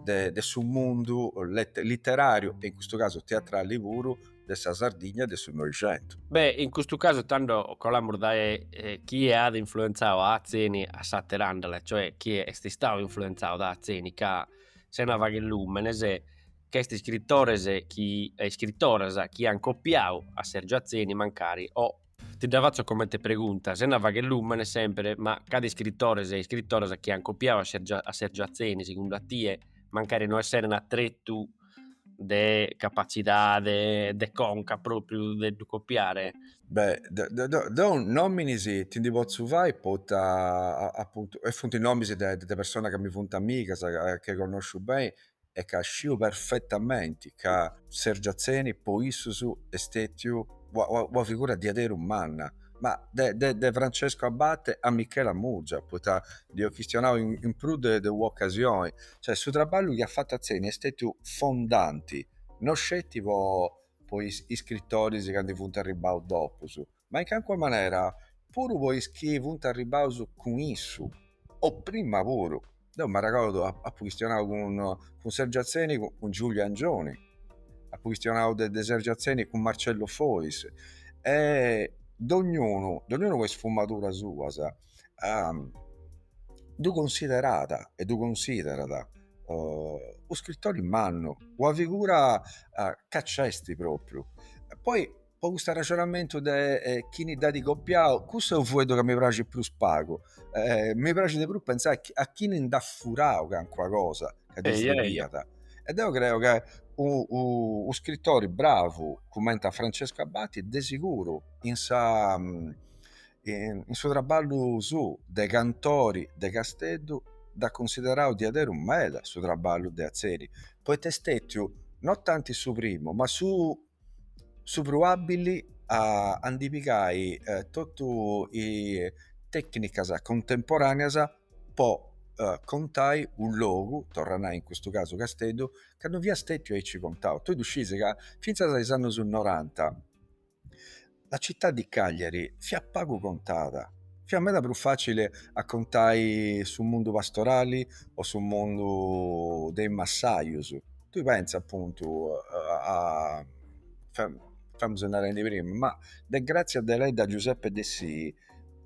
S3: de de su mundu lette litterariu e in custu casu teatrali puru de sa Sardigna de su Noixentu. Beh, in custu casu
S4: tando colamus dae chie at influenzau a Atzeni a s'aterandhela, cioè chie est istau influenzau da Atzeni ca sena fagher lùmenes, ch'est iscrittores chi e iscritoras chi an copiadu a Sergiu Atzeni mancari o ti dda fatzo comente pregunta sena fagher lùmene sempre ma ca de iscritores e iscritoras chi an copiadu a Sergiu a Sergiu Atzeni segundu a tie mancari no esseren a tretu de capatzidade de conca propriu de ddu copiare?
S3: Beh deu nominis ti ndi potzo fai poita apuntu e funt nominis de de personas ca mi funt amigas e chi connosciu beni e ca sciu perfetamenti ca Sergiu Atzeni po issus est stetiu una figura diaderu manna, ma de Francescu Abate a Michela Murgia, poita nd'apu chistionau in prus de un'ocasioni, cioè su traballu chi at fatu Atzeni est stetiu fondanti, no sceti po is scrittoris chi ndi funt arribbaus dopus, Ma in cancua manera, puru po is chi funt arribbaus cun issu, o prima puru, deu m'arregordu apu chistionau cun cun Sergiu Atzeni cun cun Giuliu Angioni, apu chistionau de de Sergiu Atzeni cun Marcello Fois e dognunu dognunu po is sfumaduras suas ddu considerat e ddu considerat u scrittori mannu, una figura ca c'est propriu, e poi po cust'arraxonamentu de chini dd'at copiau, cussu est u fueddu ca mi praxit prus pagu, mi praxit de prus pentzai a chini nd'at furau cancuna cosa ca ddis depiat e deu creu ca u scritori bravu cumenti a Francesco Abate de siguru in sa in su trabballu suu de cantori de Casteddu dd'at cunsiderau diaderus meda su trabballu de Atzeni poita est stetiu no tanti su primu ma su su prus àbbili a a ndi pigai tottu is tecnicas contemporaneas po contai u logu, torra nai in custu casu Casteddu, ca non fiat stettiu aici contau. Tui ddu scisi ca finzas a is annus noranta La città di Cagliari fiat pagu contada, fiat meda prus fàcile a contai su mundu pastorali o su mundu de is massajus. Tui pensa apuntu femus narendi prima, ma de Grazia Deledda a Giuseppe Dessì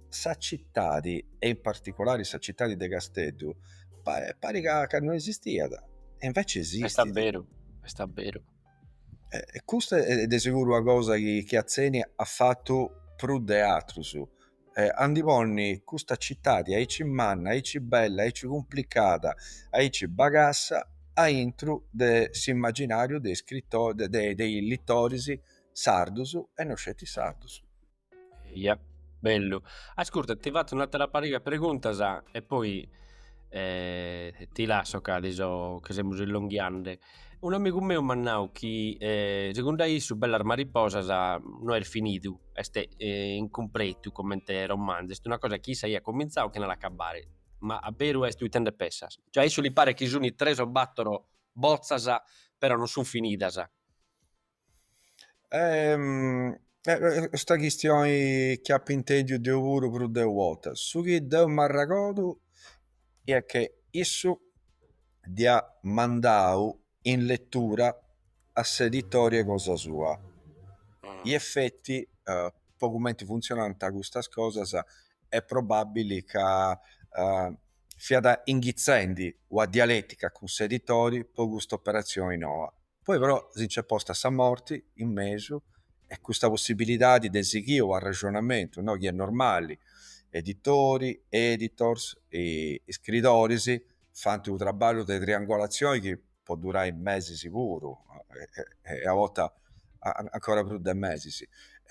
S3: sa citadi e in particolari sa citadi de Casteddu parit ca non esistiat e inveci esistit. Est abberu, est
S4: abberu.
S3: E custa è de seguru una cosa chi chi Atzeni at fatu prus de atrus est a ndi ponni custa cittadi aici manna aici bella aici cumplicada aici bagassa aintru de s'immaginariu de is de is littoris sardus e no sceti
S4: sardus
S3: Eia,
S4: bellu. Ascurta, ti fatzu un'attera pariga 'e preguntasa e poi ti lasso ca ti so, ca semus illonghiande. Unu amigu meu m'at nau chi segundu a issu Bellas mariposasa no est finidu, est incumpretu comente romanzu, est una cosa chi issa iat comintzau chena l'acabbare, ma a beru est? Ite nde pensas? Cioè a issu li paret chi suni tres o battoro bozzasa però non sun finidasa.
S3: custa chistioni dda apo intendiu deu puru prus de u'orta, su chi deu m'arragodu est chi issu dd'iat mandau in lettura a s'editore cosa sua in effetti po cumenti funtzionant custas cosas est probabbili ca fiat inghitzendi una dialetica cun s'editore po cust'operatzioni noa Poi però si nc'est posta sa morti in mesu e custa possibilidadi de sighì s'arrexonamentu, no, chi est normali, editori, editors, iscridoris fant unu traballu de triangolatzioni chi podit durai mesis puru e a borta ancora prus de mesis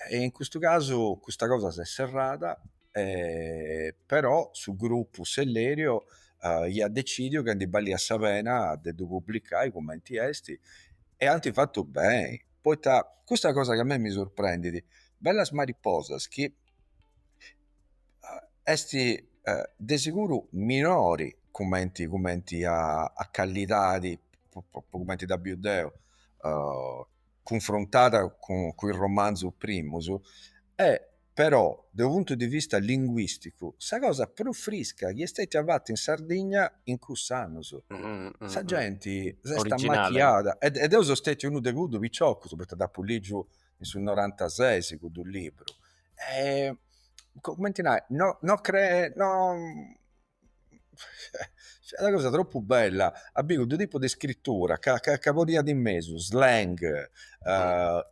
S3: e in custu casu custa cosa s'est serrada però su gruppu Sellerio iat decidiu ca ndi balliat sa pena de ddu publicai cumenti esti e anti fatu beni poita custa cosa ca a mei mi surprendidi bellas mariposas chi esti de seguru minori cumenti cumenti a callidadi cumenti dda biu deu cunfrontada cun is romanzus primus Però, de unu puntu de vista linguìsticu, sa cosa prus frisca chi est stètia fata in Sardigna in cuss'annus. Sa genti s'est ammachiada,
S4: e deu
S3: so stètiu unu de cuddus piciocus, poita dd'apu lìgiu in su norantasesi cuddu libru, e, cumenti nai, no no no Fiat una cosa tropu bella, a biri cuddu tipu de iscritura ca ca podiat in mesu slang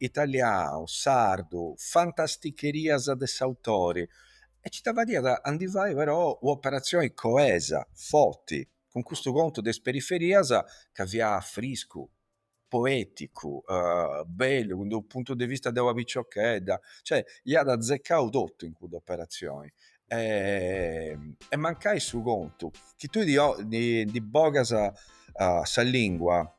S3: italianu, sardu, fantasticherias de s'autori e ci dda fadiat a ndi fai però un'operatzioni coesa, forti, cun custu contu de is periferias ca fiat friscu poeticu bellu de unu puntu de vista de una piciochedda cioè iat azzecau totu in cudda operazioni e mancai su contu chi tui ndi bogas sa lingua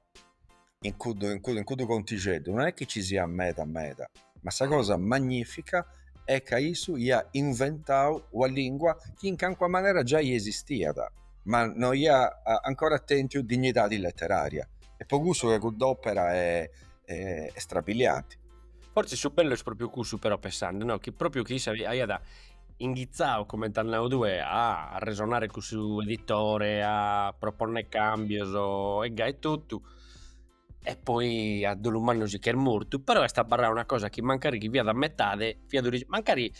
S3: in cuddu in cuddu contixeddu non è chi ci siat meda meda ma sa cosa magnifica est ca issu iat inventau una lingua chi in calincuna manera giai esistiat, ma no iat ancora tentiu dignidadi leteraria, e po cussu ca cudd'opera est strabilianti. Fortzis
S4: su bellu est propriu cussu però pensande no chi propriu chi issu aiat inghitzau coment'as nau tue a arresonare cun su editore a proponner cambios e gai totu, e poi a dolu mannu si ch'est mortu, però est abbarrada una cosa chi mancari chi fiat a metade fiat origi mancari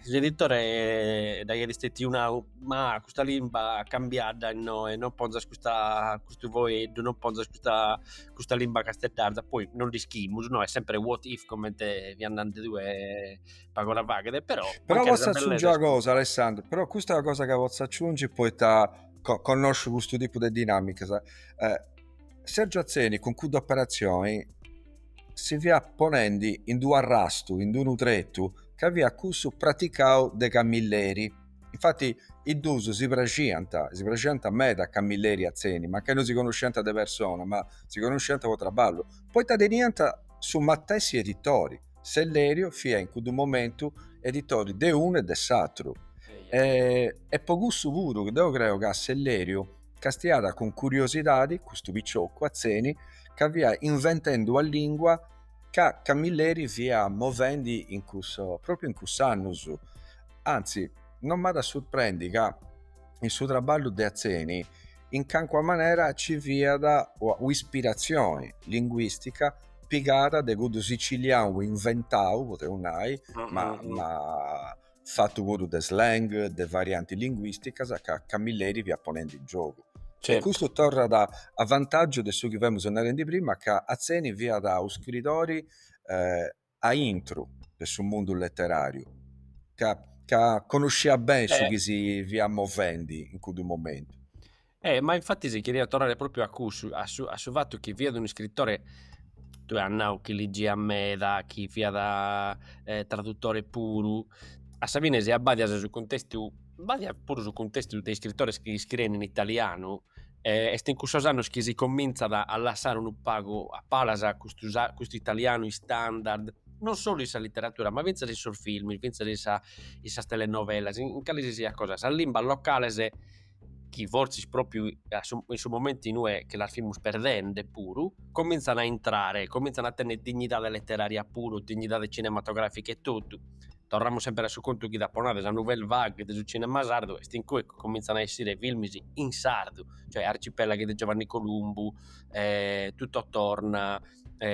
S4: s'editore nd'aiat istetiu nau, ma custa limba cambiadda innoe non ponzas custa custu foeddu non ponzas custa custa limba casteddarza, poi non nd'ischimus no, est sempre what if comente fiat nande tue pagu ora faghe però però potzo aciungi una
S3: cosa Alessandro, però custa est una cosa chi potzo aciungi poita connosciu custu tipu de dinamicas eh, Sergio Atzeni cun cudda operazioni si fiat ponendi in d'u arrastu in d'unu tretu ca fiat cussu praticau de Camilleri infati is duus si praxiant si praxiant meda Camilleri e Atzeni mancai no si connosciant de persona ma si connosciant po traballu poita teniant su matessi editori Selleriu fia in cuddu momentu editori de unu e de s'atru e po cussu puru chi deu creo ca Selleriu castiàt cun curiosidadi custu piciocu Atzeni ca fia inventendi una lingua ca Camilleri fia movendi in cussa propriu in cuss'annus anzi non m'at a surprendi ca in su trabballu de Atzeni in calincuna manera ci fiat un'ispirazioni linguistica pigada de cuddu sicilianu inventau, podeus nai, ma, ma fatu puru de slang, de varianti linguisticas ca Camilleri fiat ponendi in giogu. E custu torrat a vantaggiu de su chi femus narendi prima ca Atzeni fiat u scritori eh, a intru de su mundu letterariu, ca, ca connosciat beni su chi si fiat movendi in cuddu momentu. E
S4: ma infattis cheriat torrare propriu a cussu, a su a su fattu chi fiat un'iscrittore, tue as nau chi liggiat meda, chi fiat traduttore puru, a sa fine si abbadias su cuntestu, abbadias puru su cuntestu de iscrittores chi scriein in italianu e est in cussos annos chi si cominzat a lassare unu pagu a palas custu custu italianu istandard, non solu in sa litteratura ma finzas in sos films, finzas in sa in sas telenovelas, in calisisiat cosa, sas limbas locales chi fortzis propriu a su in su momentu inue che las fimus perdende puru cominzan a intrare cominzan a tenner dignidade letteraria puru dignidade cinematografica e totu torramus sempre a su contu chi t'apo nau de sa nouvelle vague de su cinema sardu est in cue cominzan a essire filmis in sardu cioè Arcipelaghi de Giovanni Columbu Tutto torna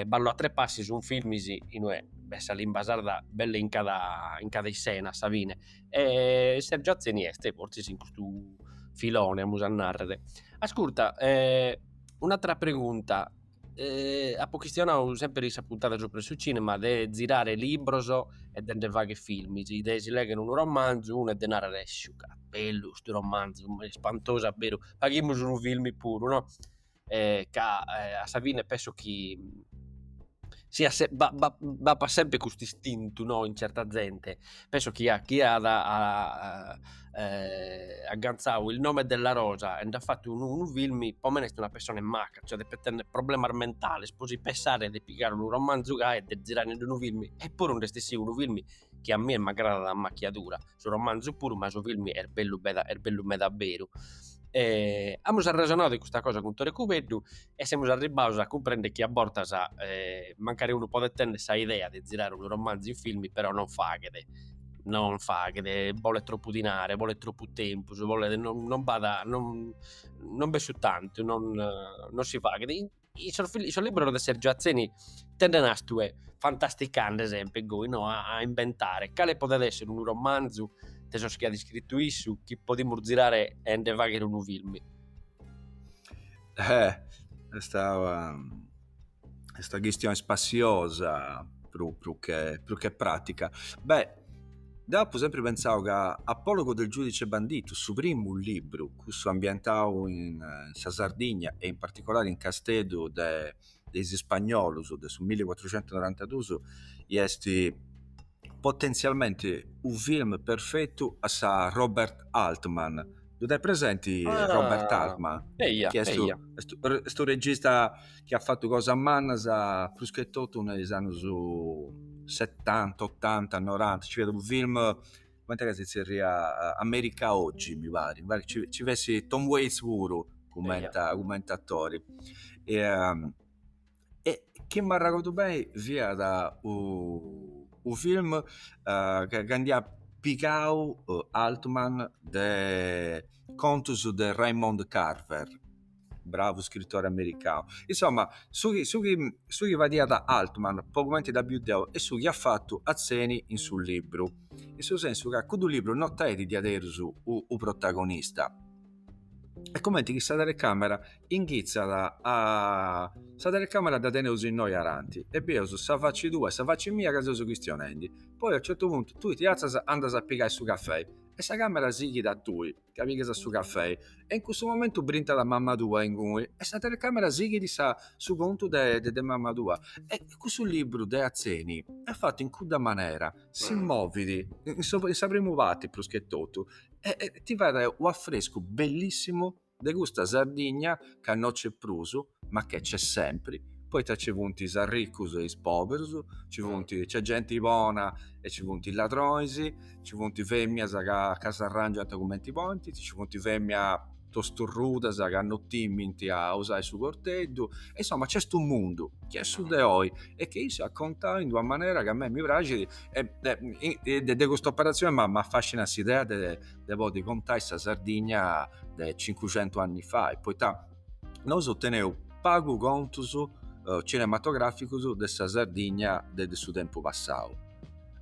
S4: Ballo a tre passi sun filmis inue b'est sa limba sarda belle in cada in cada issena a sa fine E Sergio Atzeni est fortzis in custu filone amus a narrer. Ascurta e un'atera pregunta amus chistionadu semper in sa puntada subra su cinema de zirare libros e de nde fagher filmis, de si legher unu romanzu unu e de narrer sciu ca bellu custu romanzu, est ispantosu a beru, nde faghimus unu filmi puru no. eh, ca eh, a sa fine penso chi siat, b'apat sempre custu istintu no in certa zente, penso chi chie at eh agantzadu Il nome della rosa e nd'at fatu unu filmi po mene est una persona maca, cioè depet tenner problemas mentales pro si pensare de pigare unu romanzu gai e de zirare ind unu filmi, eppuru nd'est essidu unu filmi chi a mie m'agradat a macchiadura su romanzu puru ma su filmi est bellu meda est bellu meda beru e amus arrexonadu de custa cosa cun Tore Cubeddu e semus arribbados a cumprender chi a bortas mancari unu podet tenner sa idea de zirare unu romanzu in filmi però non faghet non faghet bolet troppu dinare bolet troppu tempus bolet non non b'at non non b'est su tantu non non si faghet In sos in sos libros de Sergio Atzeni tenende, as tue fantasticande, sempre goi no a a imbentare cale podet esser unu romanzu de sos chi at iscrittu issu chi podimus zirare e nde fagher unu filmi. Eh
S3: est est una chistione spassiosa prus prus che prus che pratica. Beh Deu apu sempri pentzau ca Apologo del giudice bandito, su primu libru, cussu ambientau in sa Sardigna e in particolari in Casteddu de de is spagnolus de su millicuatrucentusnorantadus, iesti potenzialmenti u film perfettu a sa Robert Altman. Ddu tenis presenti Robert Altman? Eia, eia. Chi est u regista chi at fatu cosas mannas prus che totu in is annus setanta otanta noranta ci fiat unu film cumenti est ca si zerriat America oggi mi pari ci fiat Tom Waits puru cumenti atori e chi m'arregordu beni fiat u film ca nd'iat pigau Altman de contus de Raymond Carver bravu scritori americanu. Insomma, su chi, su chi, su chi fadiat Altman, po cumenti dda biu deu, e su chi at fatu Atzeni in su libru. In su sensu ca cuddu libru no tenit diaderus u, u protagonista. E cumenti chi sa telecamera inghitzat a. Sa telecamera dda teneus innoi ananti e bieus sa faci tua e sa faci mia ca seus chistionendi. Poi a u certu puntu tui ti atzas e andas a pigai su cafei e sa camera sighit a tui. ca pigas su cafei e in cussu momentu brintat mamma tua inguni e sa telecamera sighit sa su contu de de mamma tua e cussu libru de Atzeni è fattu in cudda manera si movit in sa in sa primu parti prus che totu e ti fait u' affrescu bellissimu de custa Sardigna ca no c'è prusu ma che c'è sempre, poita ci funt is arricus e is poberus, ci funt, c'è genti bona e ci funt is ladronis, ci funt feminas ca, ca s'arrangiant cumenti podint, ci funt feminas tosturrudas ca no timint a usai su corteddu, e insoma c'est u' mundu chi est su de oi e che issu at contau in d'una manera ca a mei mi praxit e de custa operatzioni m'affascinat s'idea de podi contai sa Sardigna de cincucentus anni fai, poita nosu teneu pagu contus cinematograficus de sa Sardigna de de su tempus passau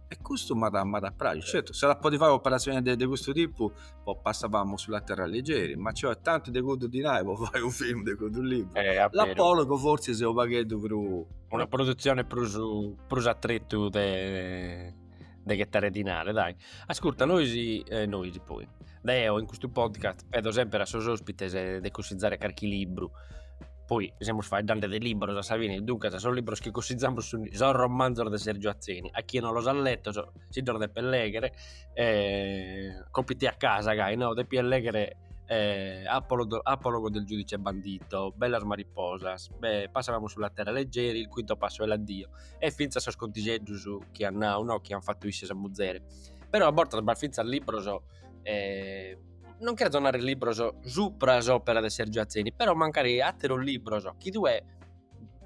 S3: e custu m'at m'at a praxi, certu s'at a podi fai operazioni de de custu tipu po Passavamo sulla terra leggeri, ma c'est tanti de cuddu dinai po fai u film de cuddu liburu, l'apologo forsi seu u pagheddu prus, una produzioni
S4: prus prus a tretu de de ghetare dinare dai ascurta nois e nois poi deo in custu podcast pedo sempre a sos ospites de cussizare carchi libru poi semus faeddande de libros a sa fine duncas sos libros chi cussizamus sun sos romanzos de Sergiu Atzeni a chie non los at lettos si ddos depet leghere e compiti a casa gai no depia leghere e Apologo Apologo del giudice bandito Bellas mariposas e Passavamo sulla terra leggeri il quinto passo è l'addio e fintzas sos contigheddos chi an nau, no, chi an fatu issi e sa muzere. Però a bortas b'at fintzas libros e non cherzo narrer libros supra s'opera de Sergiu Atzeni, però mancari atteru libru chi tue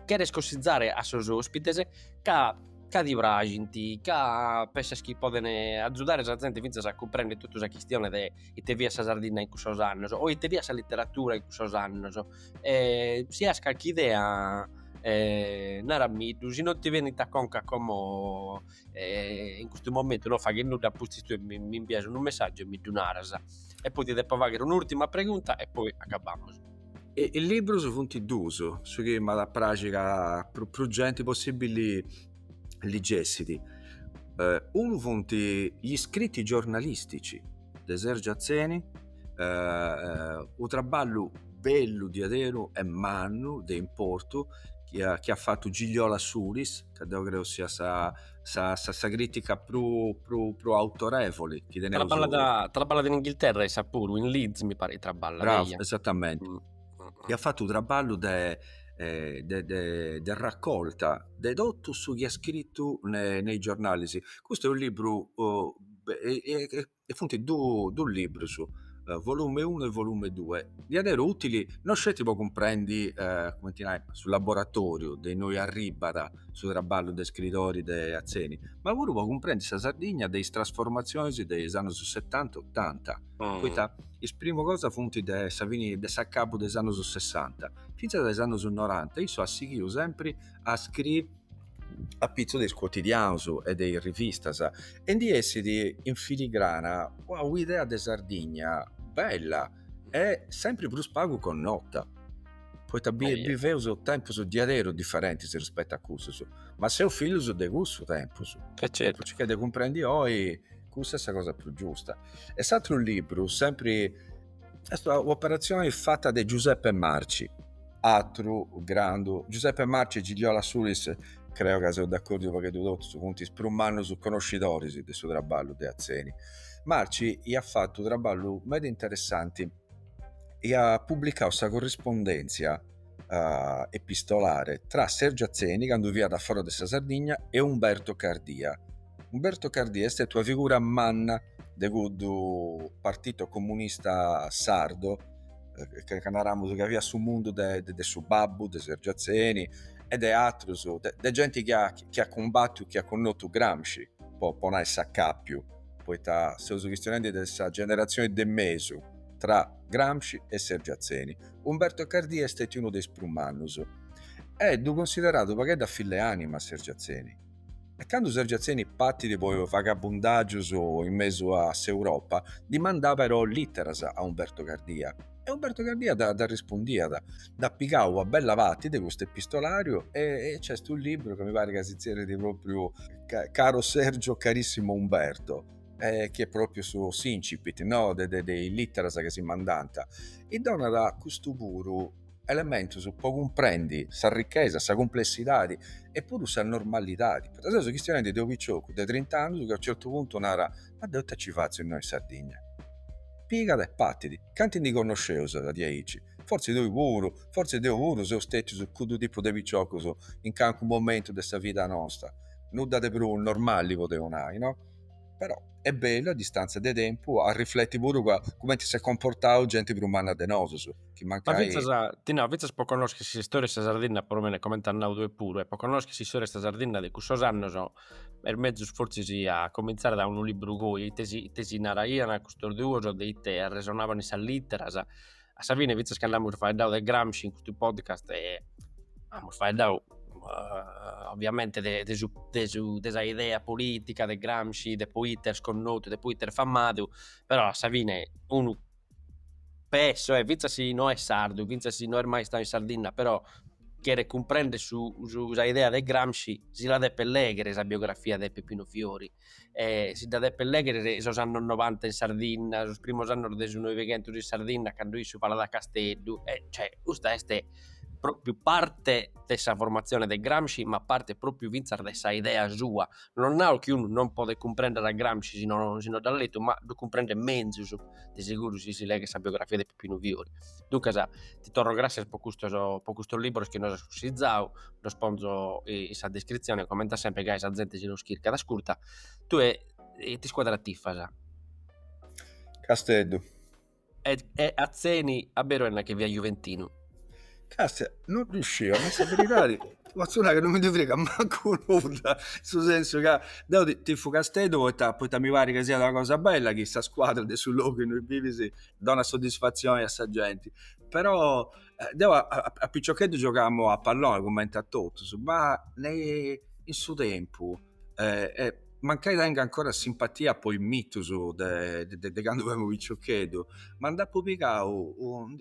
S4: cheres cossizare a sos ospites ca ca ti praxinti, ca pensas chi podene azzudare sa zente finzas a cumprender tottu sa chistione de ite fiat sa Sardinna in cussos annos o ite fiat sa litteratura in cussos annos e si as carchi idea naramiddu si non ti benit a conca como in custu momentu non faghet nudda apustis tue mi imbias unu messaggiu e mi ddu naras e poi ti depo fagher un'urtima pregunta e poi acabamos. E is
S3: liburus funt duus chi m'at a praxi ca prus genti possibili ligessit, unu funt is scritti giornalistici de Sergiu Atzeni, unu traballu bellu diaderu e mannu de importu chi at fatu Gigliola Sulis, ca deu creu siat sa sa sa crìtica prus prus autorevoli chi teneus. Traballat
S4: traballat in Inghilterra e issa puru, in Leeds mi parit traballat eia. Bravu, esatamenti
S3: chi at fatu u' traballu de de de de raccolta de totu su chi at scritu ne ne is giornalis. Custu est u' libru e funt du dus librus, volume unu e volume due, diaderus utili no sceti po cumprendi cumenti nai su laboratoriu de innoi arribbat su traballu de scritori de Atzeni, ma puru po cumprendi sa Sardigna de is trasformazionis de is annus setanta e otanta. poita is primu cosa funt de sa fini de s'acabu de is annus sessanta fintzas a is annus noranta issu at sighiu sempri a scriri apitzus de is cuotidianus e de is rivistas e ndi essit in filigrana ua idea de Sardigna bella e sempri prus pagu connota poita biveus tempus diaderus diferentis rispettu a cussus ma seus fillus de cussus tempus e totu su chi est de
S4: cumprendi
S3: oi cussa est sa cosa prus giusta. E s'atru libru sempri est u'operatzioni fata de Giuseppe Marci, atru grandu, Giuseppe Marci e Gigliola Sulis creo ca seus d'accordiu pagheddu totus, funt is prus mannus conoscidoris de su traballu de Atzeni. Marci iat fatu u' traballu meda interessanti, iat publicau sa corrispondèntzia uh, epistolare tra Sergio Atzeni, candu fiat a fora de sa Sardigna, e Umberto Cardia. Umberto Cardia est stètiu una figura manna de cuddu partito comunista sardo, eh, ca, ca naraus ca fiat su mundu de, de, de su babbu de Sergio Atzeni, e de atrus, de, de genti chi at, chi at cumbatiu, chi at connotu Gramsci, po, po nai s'accappiu, poita seus chistionendi de sa generazione de mesu, tra Gramsci e Sergio Atzeni. Umberto Cardia est stètiu unu de is prus mannus e ddu cunsideràt u' paghedda fille-ànima a Sergiu Atzeni. E candu Sergiu Atzeni partit po is vagabundàgius in mesu a s'Europa, ddi mandàt però lìteras a Umberto Cardia e Umberto Cardia dd'arrispundìat. Nd'at pigau una bella parti de custu epistolàriu e nc'est unu libru ca mi parit ca si tzerrit pròpriu Caro Sergio, Carissimo Umberto. eh, chi est propriu su s'incipit no? de, de, de is literas chi si mandant, e donat custu puru elementus po cumprendi sa ricchesa, sa cumplessidadi e puru sa normalidadi, poita seus chistionendi de unu piciocu de trint'annus chi a unu certu puntu narat, ma deu ita ci fatzu innoi in Sardigna? Pigat e partit, cantu ndi connosceus a diaici? Fortzis tui puru, fortzis deu puru seus stetius cuddu tipu de piciocus in calincunu momentu de sa vida nosta, nudda de prus normali podeus nai no? Però est bellu a distantzia de tempu a rifleti puru ca cumenti s'est comportau genti prus manna de nosus, chi Ma mancai. fintzas,
S4: ti nau, fintzas po connoschi s'istória 'e sa Sardinna, per lo meno comenti at nau tue puru, e po connoschi s'istória 'e sa Sardinna de cussos annos, est mezus fortzis a comintzare da unu libru goi, ite si ite si naraian custos duos de ite arresonaiant in sas literas, A sa fine fintzas cando amus faeddadu de Gramsci in custu podcast amus faeddadu ovviamente de de su de su de sa idea politica de Gramsci de poita est connotu de poita est famadu però a sa fine unu, penso, e finzas si no est sardu finzas si no est mai istadu in Sardinna però cheret cumprender su sa idea de Gramsci si la depet legher sa biografia de Peppino Fiori e si dda depet lèghere de sos annos novanta in Sardinna, sos primos annos de su Noighentos in Sardinna cando issu falat a Casteddu e cioè custa est propriu parte de sa formatzione de Gramsci ma parte propriu fintzas de sa idea sua, non nao chi unu non podet cumprender a Gramsci si non si non dda at letu ma ddu cumprendet menzus de seguru si si leghet sa biografia de Pepinu Fiori. Duncas ti torro gràssias po custos po custos libros chi nos as cussizau, ddos ponzo in sa descritzione comente a semper gai sa zente si ddos chircat ascurta tue ite scuadra tifas? Casteddu.
S3: E
S4: Atzeni a beru est, nachi fiat juventinu
S3: Castia, non ddu sciu, ma sa beridadi potzu nai ca non mi ndi fregat mancu nudda, in su sensu ca deu tifu Casteddu poita poita mi parit ca siat una cosa bella chi sa scuadra de su logu innui bivis dongat soddisfatzioni a sa genti però deu a piciocheddu giogamu a palloni cumenti a totus ma in su tempus e mancai tengu ancora simpatia po is mitus de candu fui piccioccheddu ma nd'appu pigau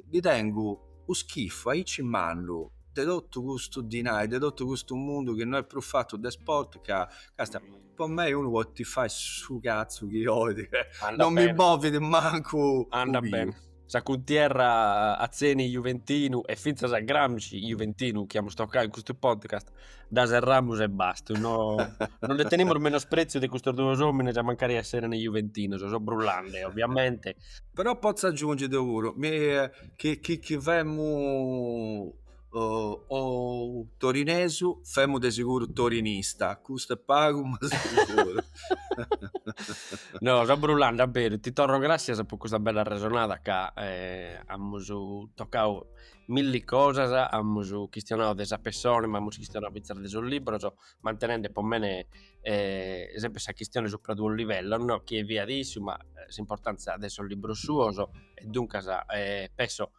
S3: ndi tengu u schifu aici mannu de tottu custu dinai de tottu custu mundu chi no è prus fattu de sport ca càstia po mei unu podit fai su cazzu chi olit non mi movit mancu u piu.
S4: sa cuntierra atzeni juventinu e fintzas a Gramsci juventinu chi amus tocau in custu podcast dda serramus e bastat no no nde tenimus menospreziu de custos duos omines a mancari esserent juventinos so brullande ovviamente però potzu
S3: agiunghi deu puru mi chi chi chi femu o torinesu femu de seguru torinista custu est pagu ma
S4: seguru no so brullande a beru ti torro grassias po custa bella arresonada ca amus tocau milli cosas amus chistionau de sa pessona ma amus chistionau finzas de sos libros mantenende po mene sempre sa chistione supra duos livellos no chie fiat issu ma s'importanzia de sos libros suos e duncas penso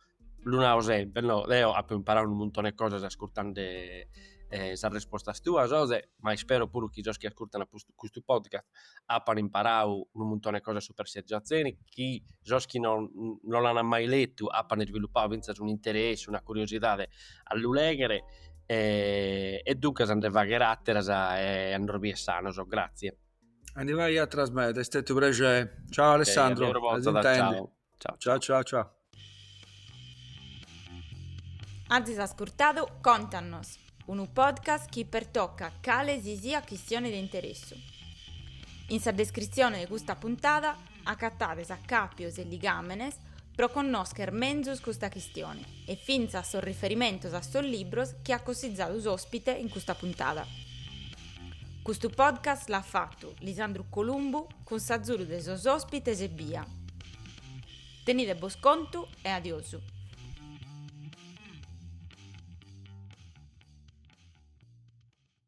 S4: lu nau sempre no deo apo imparau unu muntone 'e cosas ascurtande sas respostas tuas Jose ma ispero puru chi sos chi ascurtan custu podcast apan imparau unu muntone 'e cosas supra Sergio Atzeni chi sos chi no no l'ana mai letu apan isviluppau finzas un interessu una curiosidade a lu leghere e duncas a nde fagher ateras e a nos bier sanos grazie. A ndi fai
S3: atras medas est stetiu u' prexeri. Ciao Alessandro. Ciao ciao. Ciao ciao
S1: ciao. Azis ascurtadu Contannos, unu podcast chi pertocat cale si siat chistione de interessu. In sa descritzione de custa puntada acatades acàpios e ligàmenes pro connoscher menzus custa chistione e fintzas sos riferimentos a sos libros chi at cossizadu s'òspite in custa puntada. Custu podcast l'at fatu Lisandru Columbu, Cun s'azzudu de sos ospites ebbia. Tenide bos contu e adiosu.